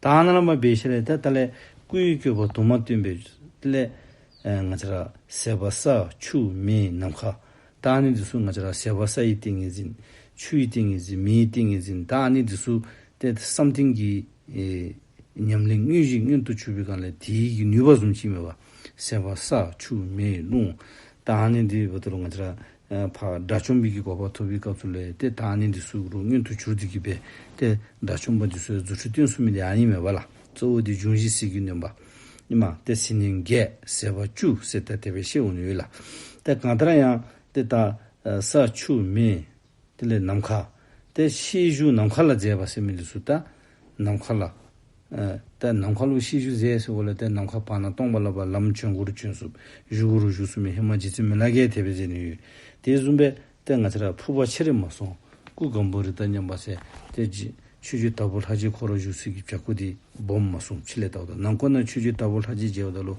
Speaker 1: སྣང་རྣམ་པར་སྦས་བྱེད་ལས། དེ་ལྟ་ལས། སྐུའི་སྐྱོད་པ་དུ་མ་སྟོན་པའི་སླད། ང་ཅག། ཟད་པ་ས་ཆུ་མེའི་ནམ་མཁའ། ད་ནི་འདི་སུ་ང་ཅག་ཟེར་བ་ས་ཡི་ཏིང་ངེ་འཛིན། ཆུ་ཡི་ཏིང་ངེ་འཛིན་མེའི་ཏིང་ངེ་འཛིན་ད་ནི་འདི་སུ་སྟེ་བསམ་གཏན་གྱི་ཉམས་ལེན་དངོས་གཞི་མངོན་དུ་ཆུད་པའི་སྒང་ལས་དེའི་ཡི་ནུས་པ་ཟུམ་གྱིན་མེད་པ་ཟེར་བ་ས་ཆུ་མེ་རླུང་ད་ནི་འདི་བ་དེ་རུ་ང་ཅག་བག་དགྲ་བཅོམ་པའི་གི་གོ་བ་ཐོབ་པའི་སྐབས་སུ་ལས་དེ་ད་ནི་འདི་སུ་རུ་མངོན་དུ་གྱུར་འདི་གི་བས་དེ་དགྲ་བཅོམ་པ་འདི་སུའི་རྫུ་འཕྲུལ་བསྟན་གསུམ་མི་ལས་ཨ་ཡིན་མེད་པ་ལ་གཙོ་བོ་དེ་འབྱུང་བཞི་སྲིད་ཀྱི་ནོན་པ། ཉི་མ་སྟེ་སྲིད་ནི་འགས་ཟེ་བ་བཅུ་སྲིད་ལྟ་དེ་བས་ཤེས་འོ་ནུས་ལ། དེ་གང་ལྟར་ཡང་དེ་ལྟ་ས་ཆུ་མེ་དེ་ལས་ནམ་མཁའ་སྟེ་ཤེས་བཞུགས་ནམ་མཁའ་ལ་མཛད་པ་སེམས་མེ་ལས་སུ་ལྟ་ནམ་མཁའ་ལ། ལྟ་ནམ་མཁའ་ལུགས་ཤེས་བཞུགས་ཟས་སེ་བོ་ལ་ལྟ་ནམ་མཁའ་བར་ན་སྟོང་པ་ལ་བར་ལམ་བྱོན་གུ་རུ་བྱོན་སུབ་བཞུགས་གུ་རུ་བཞུགས་སུ་མེ་ཧེ་མ་རྗེ་བཙུན་མི་ལ་རྒྱལ་དེ་བས་མཛད་ནུས། དེ་གསུམ་པས་ལྟས་ང་ཚེ་རབས་འཕུར་བ་ཆེ་རེ་མ་སོང་སྐུ་གང་བོ་རི་དྭགས་མཉམ་པ་ཟེར་ཏེ། ཆོས་རྒྱུད་དྭགས་པོ་ལྷ་རྗེའི་འཁོར་ལོ་བཞུགས་ཚུལ་གྱི་བརྒྱ་སྐུ་དེ་སྦོམ་མ་སོང་ཕྱི་ལས་བལྟ་བ་དང་ནང་འཁོར་ན་ཆོས་རྒྱུད་དྭགས་པོ་ལྷ་རྗེའི་རྗེ་བ་ད་ལོ་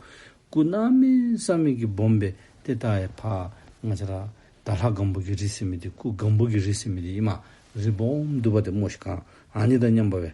Speaker 1: སྐུ་སྣང་མིན་བསམ་མིན་གྱི་སྦོམ་པས་དེ་ལྟ་ཡ་ཕ། ང་ཚེ་རབས་ད་ལྷ་གང་བོ་གི་རི་སེ་མི་དེ་སྐུ་གང་བོ་གི་རི་སེ་མི་དེ་ཡིན་མ་རེད་སྦོམ་བསྡུ་བ་དེ་རྨོ་ཞིག་གང་ཨ་ནི་དང་མཉམ་པ་བས་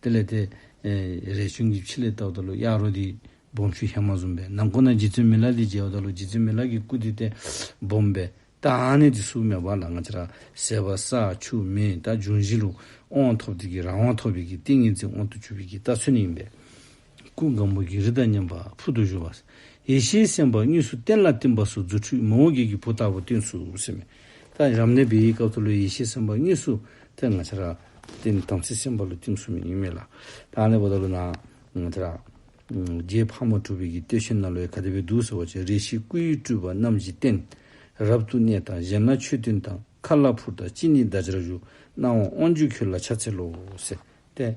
Speaker 1: དེ་ལས་དེ། རས་ཆུང་གིས་ཕྱི་ལས་བཏགས་ལྟ་ལོ་གཡག་རོ་དེས་སྦོམ་ཆུ་ཤ་མ་ཟོམ་པས་ནམ་ཁོ་ན་རྗེ་བཙུན་མི་ལ་དེས་འཇལ་བ་ལྟ་ལོ་རྗེ་བཙུན་མི་ལ་གིས་སྐུ་དེ་སྟེ། སྦོམ་པས། རྟ་ནི་དེ་སུ་མེ་བ་ལ་ང་ཅི་ར། ཟས་བ་ས་ཆུ་མེ་རྟ་འབྱུང་བཞི་ལུག། དབང་ཐོབ་དེ་གིས་རང་དབང་ཐོབ་པས་ཀྱི་ཏིང་ངེ་འཛིན་དབང་དུ་བཅུ་བས་ཀྱི་རྟ་ཚོད་ནི་ཡིན་པས། སྐུ་གང་པོ་གྱི་རི་དང་མཉམ་པ་ཕུལ་དུ་བཞུགས་པ། ཡེ་ཤེས་སེམས་དཔའ་གཉིས་སུ་བསྟན་ལ་བསྟིམ་པ་སོགས་རྫུ་འཕྲུལ་མང་བོ་བགེགས་ཀྱི་བུ་ལྟ་བུ་བསྟན་ཚུལ་གསན། མི་རྟག་རབ་གནས་པའི་སྐབས་ཐོ་ལོའི་ཡེ་ཤེས་སེམས་དཔའ་གཉིས་སུ་བསྟན་ང་ཆ་ར། དེ་ནི་དམ་ཚིག་སེམས་དཔའ་ལུས་བསྟིམ་གསུམ་ཡིན་ངེས་མེད་ལ། རང་གནས་པ་ཐོ་ལོ་ན། ང་ཆ་ར། རྒྱའི་ཕག་མོ་གྲུ་བེད་ཀྱི་སྟོད་ཤིང་ན་ལོའི་ག་དེ་བའི་གདུགས་ཟེར་བ་བཅས་རེ་ཞིག་སྐུའི་སྤྲུལ་པ་རྣམས་ཀྱིས་བསྟན། རབ་ཏུ་གནས་དང་གཞན་ན་མཆོད་བསྟོད་དང་མཁའ་ལ་འཕུར་དང་སྤྱི་ནི་བདག་ཅག་བཞུགས། སྣང་བ་དབང་ཕྱུག་ཁྱོད་ལ་ཕྱག་འཚལ་ལོ། ཟེར་ཏེ།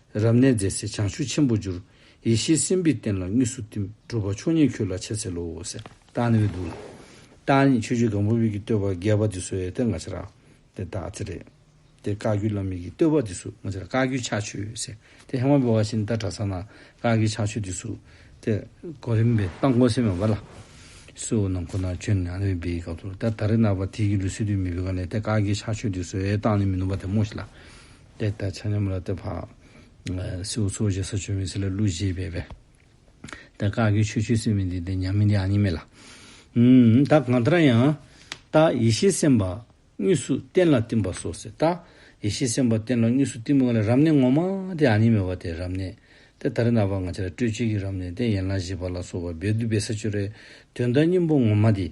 Speaker 1: རབ་གནས་མཛད་ཚེ་བྱང་ཆུབ་ཆེན་པོར་འགྱུར། ཡེ་ཤེས་སེམས་དཔའི་བསྟན་ལ་དངོས་སུ་བསྟིམ། སྒྲུབ་པ་ཆོས་ཉིད་ཁྱོད་ལ་འཆད་འཚལ་ལོ། རྟགས་ནི་འོད་དུ་ལ། རྟགས་ནི་ཆོས་སྤྱོད་གང་པོ་དབྱིག་གི་བསྟོད་པ་རྒྱས་པ་འདི་སོ་ཡ་ཏི་ང་ཤ་ར། དེ་རྟགས་ཚེ་རེག། དེ་བཀའ་བརྒྱུད་བླ་མེད་ཀྱི་བསྟོད་པ་འདི་སུ་ང་ཤ་ར་བཀའ་བརྒྱུད་ཕྱག་མཆོད་ཟེར། དེ་ཧེ་མ་བི་བ་ཤིན་ཏ་གྲ་ས་ན་བཀའ་བརྒྱུད་ཕྱག་མཆོད་འདི་སུ། དེ། གོ་རིམ་པས་རྟགས་མགོ་སེ་མ་བ་ལ། སུ་ནང་ཁོ་ནར་བྱོན་ནས་ཨ་ནུའི་སྦས་ཀ་ཏུ་ལ་དེར་ད་རེ་ནར་བ་དྷིའི་གི་ལུས་སྲིད་དུ་མི་བི་ག་ལས་དེ་བཀའ་བརྒྱུད་ཕྱག་མཆོད་འདི་སུ་ཡའི་རྟགས་ནི་མི་ནུབ་པ་དེ་སྨོས་ཤིག་ལ། དེ་ལྟར་ཆ་མཉམ་ལ་དེ་འཕགས། སྲིའུ་ཚོགས་བཞི་ས་ཆུ་མེ་སྲི་ལ་ཀླུ་བཞི་བས་པས། དེ་བཀག་གི་ཆོས་ཆུད་སེམས་མི་འདི་དེ་མཉམ་མི་འདི་ཨ་ཉི་མེད་ལ། ད་གང་ལྟར་ཡང། ལྟ། ཡེ་ཤེས་སེམས་པ། དངོས་སུ་གཏན་ལ་བསྟིམ་པ་སོགས་སེ་ལྟ། ཡེ་ཤེས་སེམས་པ་གཏན་ལ་དངོས་སུ་བསྟིམ་པ་ལ་རབ་གནས་ངོ་མ་དེ་ཨ་ཉི་མེད་པ་དེ་རབ་གནས། དེ་ལྟར་ན་བར་ང་ཆ་ལ་སྤྲོས་བཅས་ཀྱི་རབ་གནས་དེ་ཡན་ལག་བཞི་པ་ལ་སོགས་པ་རྦད་དུ་སྦས་ས་ཆོས་རའི་དོན་དང་སྙིང་པོ་ངོ་མ་དེ།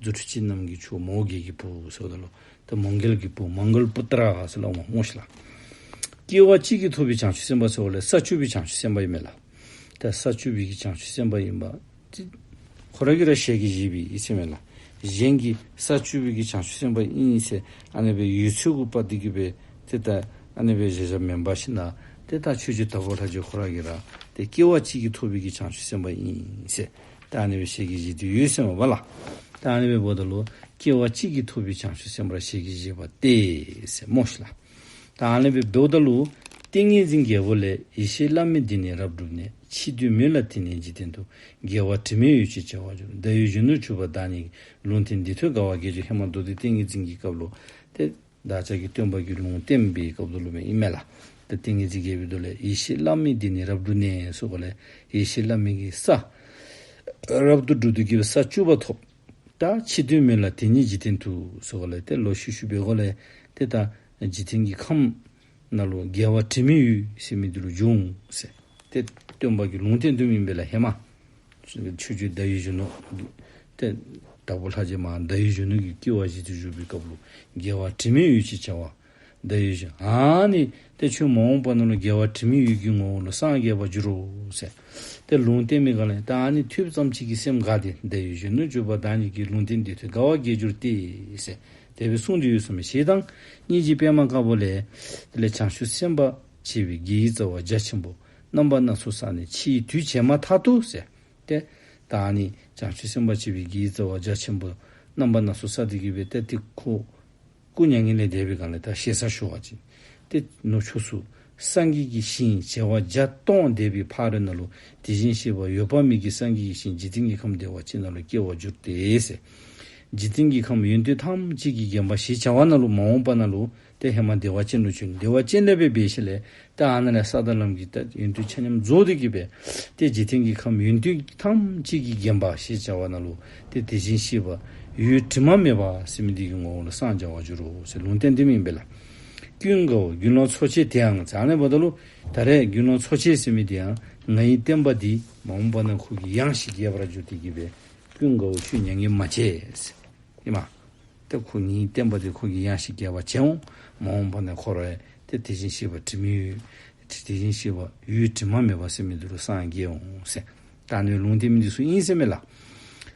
Speaker 1: རྫུ་འཕྲུལ་ཅན་རྣམས་ཀྱི་ཆུ་མོའུ་འགལ་གྱི་བུ་སོགས་དང་ལོདེ་མོའུ་འགལ་གྱི་བུ Mongol Putra སོགས་ལ་དབང་ངོ་ཞེས་ལ། སྐྱེ་བ་གཅིག་གིས་ཐོབ་པའི་བྱང་ཆུབ་སེམས་དཔའ་སོགས་ལས་ས་བཅུ་པའི་བྱང་ཆུབ་སེམས་དཔའ་ཡོད་མེད་ལ། དེ་ས་བཅུ་བའི་བྱང་ཆུབ་སེམས་དཔའ་ཡིན་པ་ཅི། ཁོ་རང་གིས་ར་ཤས་ཀྱི་བཞི་པའི་ཡིད་ཆེས་མེད་ལ། གཞན་གྱིས་ས་བཅུ་པའི་བྱང་ཆུབ་སེམས་དཔའ་ཨིན་ཡིན་ཞེས་ཨ་ནེ་པའི་ཡུལ་ཆོས་ཀུན་པར་འདི་སྐད་པས་དེ་ལྟ་ཨ་ནེ་པའི་བཞེད་བྱ་མེ་འབར་བཞིན་ན་དེ་ལྟར་ཆོས་ཀྱི་དར་ཁོག་ལྷ་རྗེ་ཁོ་རང་གིས་ར་དེ་སྐྱེ་བ་གཅིག་གིས་ཐོབ་པའི་བྱང་ཆུབ་སེམས་དཔའ་ཨིན་ཞེས། ཏཱ་ལའི་བའི་ཞལ་གྱི་བཞེས་དུས་ཡོད་ཟེར་བ་བ་ལ། ཏཱ་ལའི་བའི་བོ་ད་ལོ་སྐྱེ་བ་གཅིག་གིས་ཐོབ་པའི་བྱང་ཆུབ་སེམས་དཔར་ཞལ་གྱི་བཞེས་པ་སྟེ། སེམས་རྨོ་ཞིག་ལ། ཏཱ་ལའི་བའི་བོ་ད་ལོ། ཏིང་ངེ་འཛིན་རྒྱལ་པོ་ལས་ཡེ་ཤེས་བླ་མེད་འདི་ནས་རབ་བསྒྲུབས་ནས་ཕྱིས་དུས་མི་ལ་དེ་ནས་འཇིག་རྟེན་དུ་རྒྱལ་བ་དྲི་མེད་ཡོད་ཅེས་བྱ་བ་བརྗོད་ལ་བདག་ཡུལ་གཞོན་ནུར་གྱུར་པ་བདག་ཉིད་ཀྱི་ལུང་དེ་འདི་ཐོས་དགའ་བ་དགེ་སྦྱོར་ཧེ་མ་རྡོ་རྗེ་ཏིང་ངེ་འཛིན་གྱི་སྐབས་ལོ་སྟེ། བདག་ཅག་གི་སྟོན་པ་རྒྱུད་ལུང་བསྟན་པའི་སྐབས་སྡོ་ལུ་མའི་དབྱིབས་མེད་ལ། དེ་ཏིང་ངེ་འཛིན་རྒྱལ་པོའི་མདོ་ལས་ཡེ་ཤེས་བླ་མེད་འདི་ནི་རབ་ཏུ་གནས་སོགས་པ་ལས་ཡེ་ཤེས་བླ་མེད་ཀྱི་ས། རབ་ཏུ་སྒྲུབ་ཏུ་བགྱི་བའི་ས་བཅུ་པ་ཐོབ། ད་ཕྱིས་དོན་མེད་ལ་དེ་ཉིད་འཇིག་རྟེན་དུ་སོགས་པ་ལས་ཏེ་ལོ་ཤུ་ཤུ་པའི་སྒོ་ལས་དེ་ལྟ། འཇིག་རྟེན་གྱི་ཁམས། རྣ་ལུང་རྒྱལ་བ་དྲི་མེད་ཡུལ། ཞེས་མི་འདི་རུ་འབྱུང། དེ་སྟོན་པ་གྱི་ལུང་བསྟན་དུ་མིན་པས་ལ་ཧེ་མ། ཆོས་རྒྱུད་བརྡ་ཡི་གཞོན་ནུ། དེ་དྭགས་པོ་ལྷ་རྗེ་མ་བརྡ་ཡི་གཞོན་ནུ་གྱི་སྐྱེ་བ་བཞི་དུས་བཞུགས་པའི་སྐབས་ལུང་རྒྱལ་བ་དྲི་མེད་ཡུལ་ཅེས་བྱ་བ། བརྡ་ཡི་གཞོན་ཨཱ་ནི། དེ་ཆོས་མ་འོངས་པ་ན་ལུང་རྒྱལ་བ་དྲི་མེད་ཡུལ་གྱི་ངོ་བོ་ལ་སངས་རྒྱས་པར་འགྱུར་རོ། དེ་ལུང་བསྟན་མི་དགའ་ལ་ཨེ་ཨཱ་ནི་ཐུབ་ཙམ་གཅིག་གིས་སེམས་དགའ་སྟེ་བརྡ་ཡི་གཞོན་ནུ་བརྗོད་པ་བདག་ཉིད་ཀྱིས་ལུང་བསྟན་འདི་ཐོས་དགའ་བ་སྐྱེས་གྱུར་ཏེ། དེ་བས་གསུང་འདི་ཡོད་སམ་ཞེས་དང། གཉིས་ཀྱི་པདྨ་དཀར་པོ་ལས། དེ་ལས་བྱང་ཆུབ་སེམས་དཔའ་བྱེ་བའི་རྒྱལ་གྱི་རྩ་བ་རྒྱ་ཆེན་པོ། རྣམ་པ་སྣ་ཚོགས་བསགས་ནས་ཕྱིའི་དུས་བྱས་མ་ཐག་ཏུ་ཟད་དེ། ད་ནི་བྱང་ཆུབ་སེམས་དཔའ་བྱེ་བའི་རྒྱལ་གྱི་རྩ་བ་རྒྱ་ཆེན་པོ། རྣམ་པ་སྣ་ཚོགས་བསགས་ཏེ་དགེ་བའི་རྟ་ཐིག་ཁོ། སྐུ་མྱ་ངན་ལས་འདས་པའི་གང་ལས་དག་ཞེ་ས་ཞུ་བ་ཅི། ཏེ། ནུབ་ཕྱོགས་སུ། སངས་རྒྱས་ཀྱི་ཞིང་བྱེ་བ་བརྒྱ་སྟོང་བདེ་བའི་ཕ་རོལ་ན་ལོ། དེ་བཞིན་གཤེགས་པ་ཡོད་པ་མིག་གིས་སངས་རྒྱས་ཀྱི་ཞིང་འཇིག་རྟེན་གྱི་ཁམས་བདེ་བ་ཅན་ན་ལོ་སྐྱེ་བར་འགྱུར་ཏེ། འཇིག་རྟེན་གྱི་ཁམས་ཡུན་དུ་ཐམས་ཅད་ཀྱིས་བརྒྱན་པ་ཞེས་བྱ་བ་ན་ལོ་མ་འོངས་པ་ན་ལོ། ཏེ་ཧེ་མ་བདེ་བ་ཅན་དུ་ཆུད་ནས་བདེ་བ་ཅན་ལས་པའི་བའི་ཤ་ལས། ཏེ་ཨ་ན་ལས་ས་དང་ལམ་གྱིས་ཏེ་ཡུན་དུ་ཆ་མཉམ་རྫོགས་ཏེ་སྐྱེས་པས། ཏེ་འཇིག་རྟེན་གྱི་ཁམས་ཡུན་དུ་ཐམས་ཅད་ཀྱིས་བརྒྱན་པ་ཞེས་བྱ་བ་ན་ལོ། ཏེ་དེ་བཞིན་གཤེགས་པ་ཡུལ་དྲི་མ་མེད་པ་སེམས་དེ་ཡི་ངོ་བོ་ལ་སངས་བྱ་བར་འགྱུར་རོ། ལུང་བསྟན་འདི་མིན་པས་ལ། ཀུན་དགའ་བོ་རྒྱུ་ནོར་འཚོ་བྱེད་དེའང་ཛྭ་ནའི་བ་ད་ལོ་ད་རས་རྒྱུ་ནོར་འཚོ་བྱེད་ཟེར་མི་དེའང་ང་ཡི་བསྟན་པ་འདི་མ་འོངས་པ་ན་ཁུར་གྱི་གཡང་ཞིག་རྒྱས་པར་འགྱུར་ཏེ་བགྱིས་པས་ཀུན་དགའ་བོ་ཆུ་མྱ་ངན་མ་བྱེད། ཨེ་མ། ཏེ་ཁོ་ངའི་བསྟན་པ་འདི་ཁུར་གྱི་གཡང་ཞིག་རྒྱས་པར་བྱེད་འོང་མ་འོངས་པ་ན་འཁོར་བས་དེ་དེ་བཞིན་གཤེགས་པ་དྲི་མེད་ཡུལ། དེ་བཞིན་གཤེགས་པ་ཡུལ་དྲི་མ་མེད་པ་སེམས་མེད་དུ་རུ་སངས་རྒྱས་འོང། སེམས་དང་ནི་ལུང་བསྟན་མི་འདི་སུ་ཡིན་སེམས་མེད་ལ།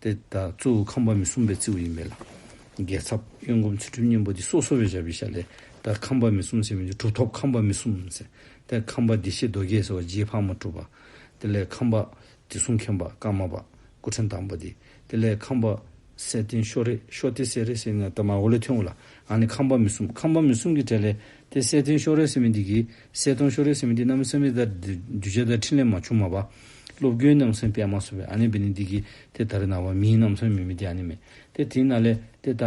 Speaker 1: འདི་དག་གཙོ་བོ་ཁམས་པ་མི་གསུམ་པའི་རྩིའུ་ཡིན་པས་ལ། རྒྱལ་ཚབ། གཡོན་བསྒོམ་ཚུལ་ཁྲིམས་གཉན་པོ་འདི་སོ་སོ་བས་བྱ་བའི་ཞལ་ལས། དེ་ཁམས་པ་མི་གསུམ་ཟེར་བའི་འདི་གྲུབ་ཐོབ་ཁམས་པ་མི་གསུམ་ཟེར། དེ་ཁམས་པ་བདེ་གཤེགས་རྡོ་རྗེ་ཟེར་བ་རྗེའི་ཕག་མོ་གྲུབ་པ། དེ་ལས་ཁམས་པ། དྲི་བསུང་མཁན་པ་ཀརྨ་པ། སྐུ་ཕྲེང་དང་པོ་འདི། དེ་ལས་ཁམས་པ། སེ་སྟེང་ཤོ་རེ་ཤོ་སྟེ་སེ་རེ་སེ་ངས་དེ་མ་གོ་ལེ་ཐོན་གོ་ལ། ཨ་ནི་ཁམས་པ་མི་གསུམ་ཁམས་པ་མི་གསུམ་གྱི་གྲས་ལས། དེ་སེ་སྟེང་ཤོ་རེ་སེ་མི་འདི་གིས། གསལ་སྟོང་ཤོ་རེ་སེམས་འདི་རྣམ་སེམས་རེ་ད་རྒྱུ་ཆ་དང་ཕྲིན་ལས་མ་བྱུང་མ་པ། སློབ་དགེའི་རྣམ་སེམས་པད་མ་སོ་བས་ཨ་ནི་བི་ནི་འདི་གིས་དེ་ད་རེ་ན་བ་མིའི་རྣམ་སེམས་མི་མི་དེ་ཨ་ནི་མེ་དེ་དེ་ན་ལེ་དེ་ད་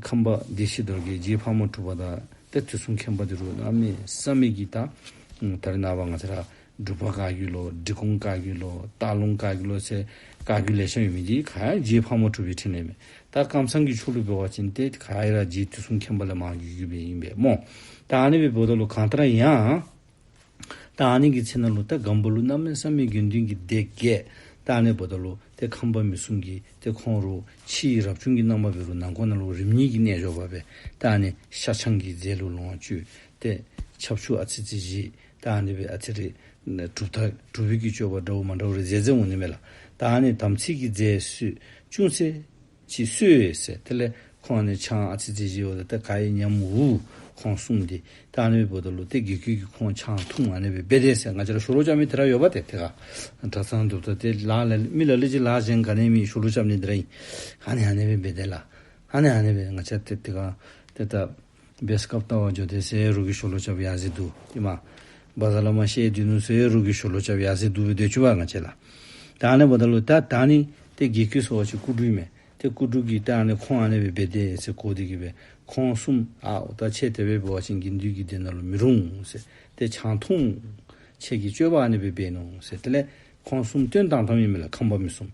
Speaker 1: ཁམས་པ་འདི་ཤི་དོར་གི་རྗེས་ཕག་མོ་འཁྲུགས་པ་ད་དེ་དུས་གསུམ་ཁེངས་པ་འདི་རུ་ཨ་མི་ས་མི་གིས་ད་ད་རེ་ན་བ་ང་ཚ་ར་སྒྲུབ་པ་བཀའ་གྱུ་ལོ་འབྲི་གུང་བཀའ་གྱུ་ལོ་སྟག་ལུང་བཀའ་གྱུ་ལོ་ཚེ་བཀའ་གྱུ་ལས་ཤ་ཡོད་མི་འདི་ག་རྗེས་ཕག་མོ་འཁྲུགས་པའི་ཕྲིན་ལས་མེ་ད་ཁམས་སངས་ཀྱི་ཆོ་ལོའི་བོད་བ་ཅན་ཏེ་ག་ཨེ་ར་རྗེའི་དུས་གསུམ་མཁན་པོ་ལ་མང་བརྒྱུད་བརྒྱུད་པས་ཡིན་པས་རྨོངས། ད་ཨ་ནེ་བའི་བོད་ད་ལོ་གང་ལྟར་ཡང། ད་ཨ་ནེ་གི་ཚེ་ན་ལོ་ད་སྒམ་པོ་ལོ་རྣམ་སྨིན་བསམ་མེད་དགེ་འདུན་གྱི་སྡེ་བརྒྱད། ད་ཨ་ནེ་བོད་ད་ལོ་ཏེ་ཁམས་པ་མི་གསུམ་གྱི་ཏེ་ཁོང་རུ་ཕྱི་ཡི་རབ་བྱུང་གི་སྣང་བ་བེ་རུ་ནང་ཁོ་ན་ལོ་རིམ་གཉིས་ཀྱི་གནས་འཇོག་པ་བས་ད་ཨ་ནེ་ཤ་ཆང་གི་རྫས་ལུག་ལོངས་སྤྱོད་ཏེ། ཆབ་ཆུ་ཨ་ཙི་ཙི་བཞི། ཏཱ་ནི་བའི་ཨ་ཚེ་རེད། གྲུབ་མཐའ་གྲུབ་བོད་ཀྱི་སྤྱོད་པ་འདྲ་བོ་མ་འདྲ་བོ་རེད་ཟེར་ཚེ་ངོ་ནི་མེད་ལ། ཏཱ་ནི་དམ་ཚིག་གི་རྫས་སུས་ཅུང་ཚེ། ཅི་གསོས་ཟེར་དེ་ལས་ཁོང་ནི་ཆང་ཨ་ཚེ་རྫས་བཞི་ཡོད་ལ་དེ་ག་ཡིན་སྙམ་འུ། ཁོང་གསུངས་ཏེ། ཏཱ་ནི་བའི་བུ་ད་ལོ་སྟེ་དགེ་སྐྱོན་གྱིས་ཁོང་ཆང་འཐུང་མ་ནུས་པས་དཔེ་བདེན་ཟེར་ང་ཅར་ཤོ་ལོ་ཅག་མི་དེ་འདྲ་ཡོད་པ་དེ་དེ་ག། གྲྭ་ཚང་གྲུབ་མཐའ་དེ་ལགས་ལ་མི་ལ་ལས་ཅི་ལགས་གཞན་ག་ནས་མི་ཤོ་ལོ་ཅག་མི་འདི་འདྲ་ཡིན། ཧ་ནི་ཧ་ནི་བའི་དཔེ་བདེན་ལ། ཧ་ནི་ཧ་ནི་བའི་ང་ཅར་དེ་དེ་ག། དེ་ལྟ། སྦས་སྐབས་ལྟ་བ་འཇོ་སྟེ་སའི་རུ་གི་ཞོ་ལོ་ལྕགས་ཡར་གཟིགས་དུ། ཀྱེ་མ། བ་ཟ་ལ་མ་ཤའི་དུས་ནུ་སའི་རུ་གི་ཞོ་ལོ་ལྕགས་ཡར་གཟིགས་དུ་བའི་དོད་ཆུ་བ་ང་བྱེད་ལ། ད་ཨ་ནེ་བ་ད་ལོ་ད་ད་ནི་ཏེ་དགེ་ཁི་སོ་བ་ཆུ་ཀུ་དྲུག་མེ་ཏེ་ཀུ་དྲུག་གིས་ཏེ་ཨ་ནེ་ཁོང་ཨ་ནེ་བའི་བེ་ཏེ་སེ་གོ་དེ་གི་བེ་ཁོང་གསུམ། ཨའོ་ད་ཆེ་དེ་བེ་བེ་བ་ཆེན་གི་འདུས་ཀི་དེ་ན་ལོ་མི་རུང་སེ་ཏེ་ཆང་འཐུང། ཆེ་གི་སྤྱོད་པ་ཨ་ནེ་བེ་བེ་ནོ་སེ་ཏེ་ལེ་ཁོང་གསུམ་སྟོན་དང་དམ་ཡེ་མེ་ལ་ཁམས་བ་མི་གསུམ།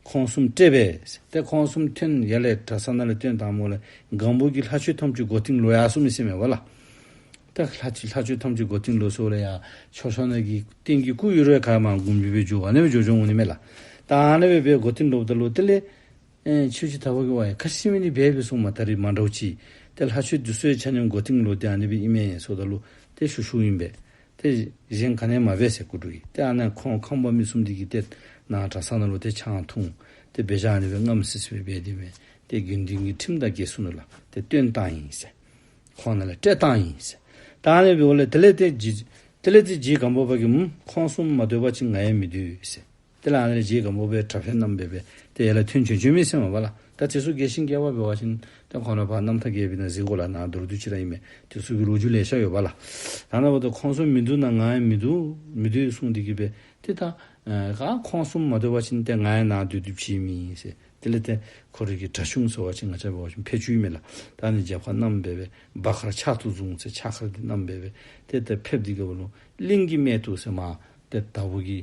Speaker 1: ཁོང་གསུམ་སྤྲད་པས། དེ་ཁོང་གསུམ་ཐོན་ཡ་ལས་གྲ་ས་ན་ལས་སྟོན་དང་མོ་ལ་སྒང་བུ་གི་ལྷ་ཆོས་ཐམས་ཅུད་སྒོ་ཐིང་ལོ་ཡ་གསུམ་མི་སེམས་མེ་བ་ལ། དེ་ལྷ་ཆོས་ལྷ་ཆོས་ཐམས་ཅུད་སྒོ་ཐིང་ལོ་སོ་ལ་ཡ་ཆོ་ཤོ་ན་གི་ཏིང་གི་སྐུ་ཡུ་རོའི་ཁ་མ་གུམ་བུ་བའི་ཇོ་བ་ན་བའི་ཇོ་ཇོ་ངུ་ནི་མེ་ལ། དང་ན་བའི་བའི་སྒོ་ཐིང་ལོ་བ་ད་ལོ་ཏི་ལེ། ཆོས་ཆུ་ད་བ་གི་བ་ཡ་ཁ་ཤི་མི་ནི་བས་བའི་སུང་མ་ད་རི་མ་འདྲ་བུ་ཆི། དེ་ལྷ་ཆོས་དུ་སོའི་ཆ་ནིམ་སྒོ་ཐིང་ལོ་དེ་ཨ་ནི་བའི་ཨི་མེ་སོ་ད་ལོ་ཏི་ཤུ་ཤུ་ཡིན་པས། དེ་བཞིན་ག་ནས་མ་བས་སེ་ཀུ་དྲུག་ཡིན་ཏེ་ཨ་ནས་ཁོང་ཁང་པ་མི་གསུམ་དེ་གྱིས་ཏེ། ནང་གྲ་སང་ན་ལོ་དེ་ཆའང་འཐུང། དེ་བས་ཤ་ནི་བས་རྔམ་སིས་སིས་བས་བས་དེ་མེད་དེ་དགེ་འདུན་གྱི་ཁྲིམས་དང་གེ་སུ་ནུ་ལ་དེ་སྟོན་སྟངས་ཡིན་སེ། ཁོང་ན་ལ་སྤྲད་སྟངས་ཡིན་སེ། ད་ཨ་ནས་བས་བོ་ལ་དེ་ལས་དེ། དེ་ལས་དེ་བྱིས་གང་པོ་བ་གིས་མ། ཁོང་གསུམ་མ་སྡོད་པ་ཅི་ང་ཡང་མི་སྡོད་སེ། དེ་ལའང་ལས་བྱེད་ཀྱི་དམུ་པའི་དྲག་ཤ་རྣམས་འབེབས་པས་དེ་ཡེ་ལ་ཐུན་བྱོན་ཆོས་མིན་སེམས་དབང་བ་ལ། ད་དེ་སུ་དགེ་ཞིང་དགེ་བ་འབེལ་བ་བཞིན་དོན་གང་ནོད་པ་རྣམས་ཐ་དགེ་བའི་ན་གཟིགས་གོ་ལ་ན་མདོར་བསྡུས་ཅི་རང་ཡིན་མེད་དེ་སུ་གི་ལོ་རྒྱུས་ལས་ཤར་ཡོད་པ་ལ། ད་ནང་བ་དུ་ཁོང་གསུམ་མི་འདུག་ན་ང་ཡང་མི་འདུག་མི་སྡོད་གསུངས་འདི་གི་བས་དེ་ད་ག་ཁོང་གསུམ་མ་སྡོད་བ་བཞིན་དེ་ང་ཡང་ན་སྡོད་དུས་ཕྱིའི་མི་ཡིན་སྲིད་དེ་ལས་དེ་ཁོ་རིགས་ཀྱི་གྲྭ་གཞུང་ཟེར་བ་ཆེ་ང་ཅག་འབེལ་བ་བཞིན་ཕལ་ཆུའི་མི་ལ་ད་ནི་རྒྱབ་ཁ་རྣམས་འབེལ་བས་སྦ་ཁར་ཕྱག་ཏུ་བཟུང་ཚེ་ཕྱག་ཁར་འདི་རྣམས་འབེལ་བས་དེ་ལྟར་ཕེབས་འདི་ག་བ་ལུང་གླིང་གི་སྨད་དུ་སེ་མ་དེ་ད་བུ་གི།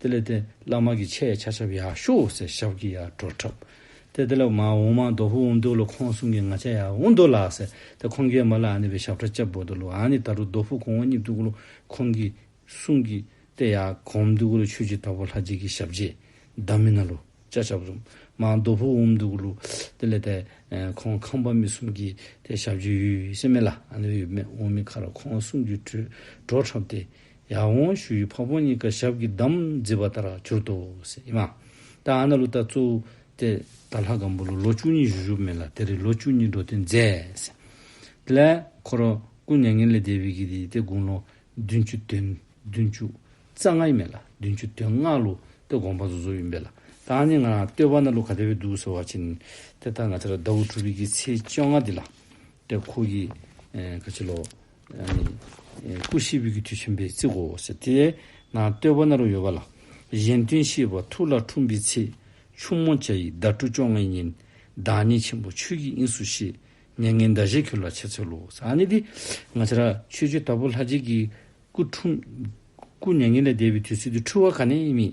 Speaker 1: དེ་ལས་ཏེ་བླ་མ་གི་ཆས་ཡ་ཆ་ཆབ་ཡ་ཤོག་སེ་ཞབས་ཀི་ཡ་བྲོ་ཁྲབ། དེ་དེ་ལས་མ་འོང་མ་དོ་བྷུ་འུ་འདུག་ལོ་ཁོང་གསུང་གི་ང་ཆ་ཡ་འུ་འདུག་ལགས་སེ་དེ་ཁོང་གིས་མ་ལ་ཨ་ནི་བའི་ཞབས་ཁྲ་བཅབ་བོ་འདུག་ལོ་ཨ་ནི་ད་རུ་དོ་བྷུ་གོང་བ་གཉིས་འདུག་ལོ་ཁོང་གིས་གསུང་གི་དེ་ཡ་གོམ་འདུག་ལོ་ཆོས་ཀྱི་ད་བོ་ལྷ་རྗེ་གི་ཞབས་རྗེས་བདག་མི་ན་ལོ་ཅ་ཆབ་རུམ་མ་དོ་བྷུ་འུ་འདུག་ལོ་དེ་ལས་ཏེ་ཁོང་ཁང་པ་མི་གསུམ་གི་དེ་ཞབས་རྗེས་ཡུས་སེ་མེ་ལ་ཨ་ནི་བའི་མེ་འོང་མི་ཁ་ར་ཁོང་གསུང་གི་བྲོ་ཁྲབ་དེ། ཡང་འོང་ཞུ་ཡི་ཕག་ཕོང་གཉིས་ཀ་ཞབས་ཀྱི་འདམ་རྫིས་པ་ལྟར་གྱུར་ཏོ། ཨེ་མ། ད་ཨ་ན་ལུ་ད་ཙུ། ཏེ། ད་ལྷ་སྒམ་པོ་ལོ་ལོ་བཅུ་གཉིས་བཞུ་བཞུགས་མེད་ལ་དེ་རིང་ལོ་བཅུ་གཉིས་འགྲོ་དོན་མཛད། དེ་ལས། ཁོ་རང་སྐུ་མྱ་ངན་ལས་འདས་པའི་དགེ་དེའི་སྟེ་དགུང་ལོ། བདུན་བཅུ་དོན། བདུན་བཅུ། རྩ་ལྔ་ཡིན་མེད་ལ་བདུན་བཅུ་དོན་ལྔ་ལོ། ཏེ་དགོངས་པ་ཟུར་ཟུར་ཡིན་པས་ལ། ད་ཨ་ནི་ང་རང་ལྟོས་པ་ན་ལུ་ག་དེ་བས་སྡུག་ཟེར་བ་ཅི། ཏེ་ད་ང་ཚ་ར་ཟླ་འུ་ཕྲུག་བིས་ཀྱི་ཚེས་བཅོ་ལྔ་འདི་ལ། ཏེ་ཁོ་གིས། ཁ་ཆེ་ལོ། སྐུ་གཤེགས་དབུས་ཀྱི་དུས་ཆེན་པོའི་རྩིས་འགོ་ཞེས་དེའི་ནང་བསྟོད་པ་ནོར་བུ་ཡོད་པ་ལ། གཞན་དོན་བཞི་པ་ཐུགས་ལ་འཁྲུངས་པའི་ཚེ། ཆུང་མོ་བྱ་ཡི་ཟླ་དྲུག་བཅོ་ལྔའི་ཉིན། བདག་ཉིད་ཆེན་པོ་ཆོས་ཀྱི་དབྱིངས་སུ་གཤེགས། མྱ་ངན་འདའ་བྱེད་ཁྱོད་ལ་ཆེ་ཚོལ་ལོ། ས་ནི་འདི། ང་ཕྱི་ར། ཆོས་སྤྱོད་དྭགས་པོ་ལྷ་རྗེས་ཀྱི། སྐུ་འཁྲུངས། སྐུ་མྱ་ངན་ལས་འདས་པའི་དུས་ཚོད་དུ་འཁྲུལ་བ་ག་ནས་མེད།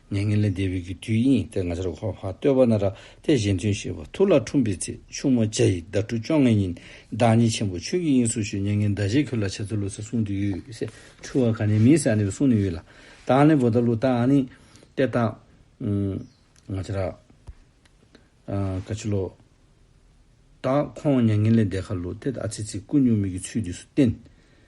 Speaker 1: ནས་ངན་ལས་འདས་པའི་གི་དུས་ཡིན་ཏེ་ང་ཅར་ཧོ་བྷ་སྟོད་བ་ན་ར་ཏའི་གཞན་དོན་ཞེས་པ་ཐུགས་ལ་འཁྲུངས་པའི་ཚེ་ཕྱུག་མོ་བྱ་ཡི་ཟླ་དྲུག་བཅོ་ལྔའི་ཉིན་བདག་ཉིད་ཆེན་པོ་ཆོས་ཀྱི་དབྱིངས་སུ་བཞུགས་མྱ་ངན་འདའ་བྱེད་ཁྱོད་ལ་བྱ་ཚུལ་ལོ་ཚེ་གསུངས་དུས་ཡོད་སེ་འཁྲུལ་བ་ག་ནས་མིན་སེ་ཨ་ནི་བས་གསུངས་ནི་ཡོད་ལ་དང་ལེན་བོ་ད་ལུ་ཏཱ་ཨ་ནི་ཏེ་ཏཱ། ང་ཅར་ཨ། ཀ་ཅི་ལོ་ཏཱ་ཁོང་མྱ་ངན་ལས་འདས་ཁ་ལུ་ཏེ་ཏཱ་ཨ་ཚེ་ཚིག་ཀུན་ཉུང་མིག་གི་ཚུལ་དུས་སུ་བསྟན།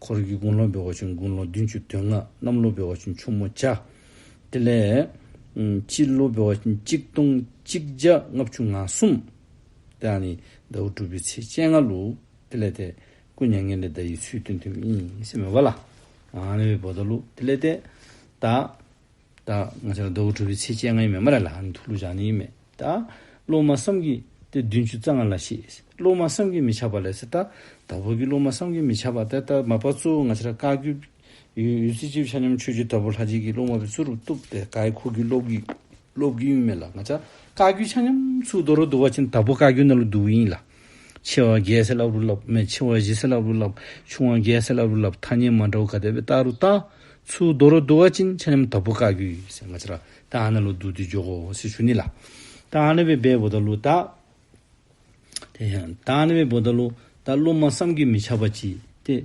Speaker 1: འཁོར་བརྒྱུད་དགུང་ལོ་འབེལ་བ་བྱུང་དགུང་ལོ་བདུན་ཅུ་དོན་ལྔ་གནམ་ལོ་འབེལ་བ་བྱུང་ཕྱུག་མོ་བྱ། དེ་ལས། དཔྱིད་ལོ་འབེལ་བ་བྱུང་གཅིག་སྟོང་གཅིག་བརྒྱ་ལྔ་བཅུ་ང་གསུམ། དེ་ཡང་ནི་ཟླ་བ་དྲུག་པའི་ཚེས་བཅད་ལྔ་ལུགས། དེ་ལས་ཏེ། སྐུ་མྱ་ངན་ལས་བདག་ཡིད་ཚུལ་སྟོན་ཐུན་མིན་སེམས་མེད་པ་ལ། ལས་མེད་པའི་བོ་ད་ལུགས་དེ་ལས་ཏེ། བདག། ད་ང་ཚོ་ལ་རྡོ་བུ་གྲུ་བའི་ཚེ་སྤྱན་ལྔའི་མེ་མ་ར་ལ་ཧ་ནི་ཐུགས་ལུགས་བཞག་ནི་མེད་ད། སློབ་མ་བསམ་གྱིས་ཏེ་བདུན་ཅུ་རྩ་ལྔ་ལ་ཤེས། སློབ་མ་བསམ་གྱིས་མི་ཆགས་པ་ལས་སེ་ད། ད་བོད་ཀྱི་སློབ་མ་བསམ་གྱིས་མི་ཆགས་པ་དེ་ལྟར་མ་པ་གཙོ་བོ་ང་ཚོ་ལ་བཀའ་བརྒྱུད། ཡུལ་སྲིད་སྤྱི་བོ་ཆ་མཉམ་ཆོས་བརྒྱུད་ད་བོ་ལྷ་རྗེ་ཀྱི་སློབ་མ་བའི་གཙོ་རུ་གཏུགས་ཏེ་བཀའ་ཡི་འཁོར་བརྒྱུད་སློབ་བརྒྱུད་སློབ་བརྒྱུད་ཡུན་མེད་ལ་ང་ཚ་བཀའ་བརྒྱུད་ཆ་མཉམ་ཚུལ་རྡོ་རུ་བསྡུ་བ་བཞིན་ད་བོ་བཀའ་བརྒྱུད་རྣ་ལུ་བསྡུ་བ་ཡིན་ལ། ཆེ་བ་བརྒྱད་ཟེར་ལབ་རུ་ལབ། མི་ཆེ་བ་བཞི་ཟེར་ལབ་རུ་ལབ། ཆུང་བ་བརྒྱད་ཟེར་ལབ་རུ་ལབ། ཐ་སྙད་མ་འདྲ་བོ་ག་དེ་བས་བཏགས་རུ་བཏགས། ཚུལ་རྡོ་རུ་བསྡུ་བ་ཅན་ཆ་ཉམས་དྭ་བུ་བཀག་གུ། སེ་མ་ཆེ་ར་ཏཱ་ཧ་ན་ལུ་བསྡུ་དུས་འཇོག་གོ་སི་ཤུ་ནི་ལ། ཏཱ་ཧ་ན་བའི་བས་བོ་ད་ལུ་བཏགས། ཏཱ་ཧ་ན་བའི་བོ་ད་ལུ། ད་ལུ་མ་བསམ་གི་མི་ཆགས་པ་ཅི་སྟེ།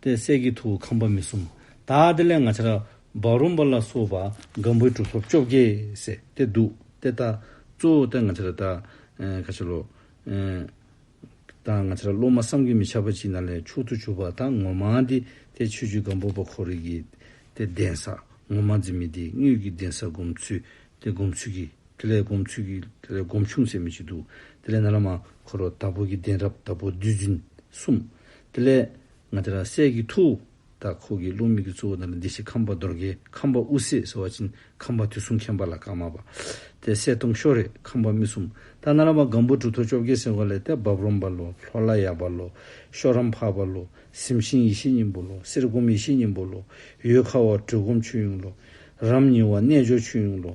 Speaker 1: ཏེ་གསེར་གྱི་ཐུ་བོ་ཁང་པ་མི་གསུམ། དག་ཏེ་ལན་ལྔ་ཆར་བ་རུམ་པ་ལ་སོགས་པ་སྒམ་པོའི་སྒྲུབ་ཐབས་བཅོ་བརྒྱད་བསྲེ་སྟེ་བདུག་སྟེ་བཏགས། གཙོ་བོ་སྟེ་ང་ཕྱིར་བདག། ཁ་ཕྱིར་ལོག། དང་ང་ཕྱིར་སློབ་མ་བསམ་གྱིས་མི་ཁྱབ་པ་ཅིག་ན་ལན་བཅུ་དུ་བྱུགས་པ་དང་ངོ་མ་འདི་སྟེ་ཆོས་བཅུའི་སྒམ་པོ་པ་ཁོ་རེ་གི། སྟེ་གདན་ས། ངོ་མ་འཛིན་མེད་འདི་དངོས་ཀྱི་གདན་ས་སྒོམ་ཚུལ། སྟེ་སྒོམ་ཚུལ་གྱི། དེ་ལས་སྒོམ་ཚུལ་གྱི། དེ་ལས་སྒོམ་ཆུང་ཟད་མི་ཆུ་བདུག། དེ་ལས་ན་ལ་མ། འཁོར་བ་དྭགས་པོ་གྱི་གདན་རབ་དྭགས་པོ་བདུད་འཛིན་གསུམ། དེ་ལས། ང་ཏི་ར་སྲས་ཀྱི་ཐུ། དང་ཁོ་གི་བློ་མིག་གི་གཙོ་བོ་ན་ལ་འདི་ཞེས་ཁམས་པ་རྡོར་གེ་ཁམས་པ་དབུ་སེ་ཟེར་བ་ཅིན་ཁམས་པ་དུས་གསུམ་མཁྱེན་པ་ལ་ཀ་མ་པ། དེ་སྲས་ཏུང་ཤོ་རེ་ཁམས་པ་སྨི་གསུམ་ཏཱ་ན་ར་བ་སྒམ་པོ་གྲུ་ཐོ་བཅོ་བརྒྱད་ཟེར་བ་ལས་དེ་འབབ་རོམ་པ་ལོ་ལྷོ་ལ་ཡ་པ་ལོ་ཤོ་རམ་བྷ་པ་ལོ་སིམ་ཤིང་ཡེ་ཤེས་སྙིང་པོ་ལོ་གསེར་སྒོམ་ཡེ་ཤེས་སྙིང་པོ་ལོ་ཡོས་ཁ་བ་གྲུལ་སྒོམ་ཆོས་གཡུང་ལོ་རམ་ཉི་བ་རྣལ་འབྱོར་ཆོས་གཡུང་ལོ།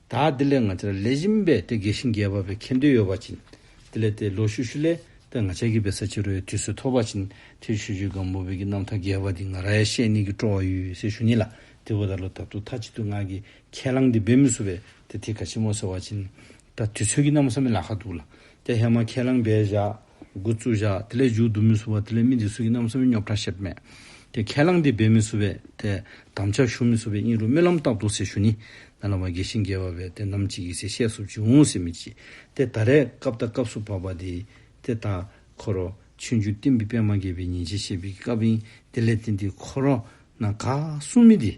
Speaker 1: ད་དེ་ལས་ང་ཅར་ལས་གཞི་མིན་པས་དེ་དགེ་ཞིང་རྒྱས་པ་བས་ཁེ་འདོད་ཡོད་པ་བྱིན། དེ་ལས་དེ་ལོ་ཤུ་ཤུ་ལས་པས་ང་ཅར་སྐྱིད་པའི་ས་ཕྱི་རོལ་ཡ་དུས་སུ་ཐོབ་པ་བྱིན། དེ་ཤུ་ཤུའི་སྒང་བུ་བས་ཀྱི་རྣམ་ཐར་རྒྱས་པ་འདི་ང་ར་ཡ་ཤས་གནས་ཀྱི་སྤྲོ་བ་ཡུལ་ཡོད་སའི་ཤུ་ཉི་ལ་དེ་བུ་ད་ལོ་ད་དུ་ཐ་ཅི་དུ་ང་གི་ཁས་བླངས་འདི་འབད་མི་བཟོ་བས་དེ་དེ་ག་ཆེན་མོ་ཟེར་བ་བྱིན། ད་དུས་ཚོད་ཀྱི་རྣམ་བསམ་མེ་ལ་ཁ་འདུག་ལ་དེ་ཧེ་མ་ཁས་བླངས་འབད་བཞག། དགུ་བཅུ་བཞག་དེ་ལས་འཇུག་བསྡུ་མི་བསུ་བ་དེ་ལས་མི་འདི་སུ་ཡིན་ནམ་བསམ་ཡུལ་ཉོབ་གྲང་ཤེད་མེད་དེ་ཁས་བླངས་འདི་འབད་མི་བསུ་བས་དེ་དམ་འཆའ་ཞུ་མི་བསུ་བའི་སྙིང་རུས་རྨི་ལམ་ལྟག་ཏུ་སེ་ཞུ་ནི་ན་ལ་བ་དགེ་ཞིང་དགེ་བ་བས་དེ་ནམ་ཅི་ཡིག་སེ་ཤས་སུ་བྱུང་འོང་སེ་མི་བྱེད་དེ་ད་རེས་སྐབས་ད་སྐབས་སུ་བབ་པ་འདི་དེ་ད་ཁོ་རོ་ཆོས་འཇུག་བསྟན་པའི་པདྨ་དགེ་བའི་ཉིན་བྱེད་བཤད་པའི་སྐབས་ཡིན་དེ་ལས་དེ་འདི་ཁོ་རོ་ན་ག་སུ་མི་འདི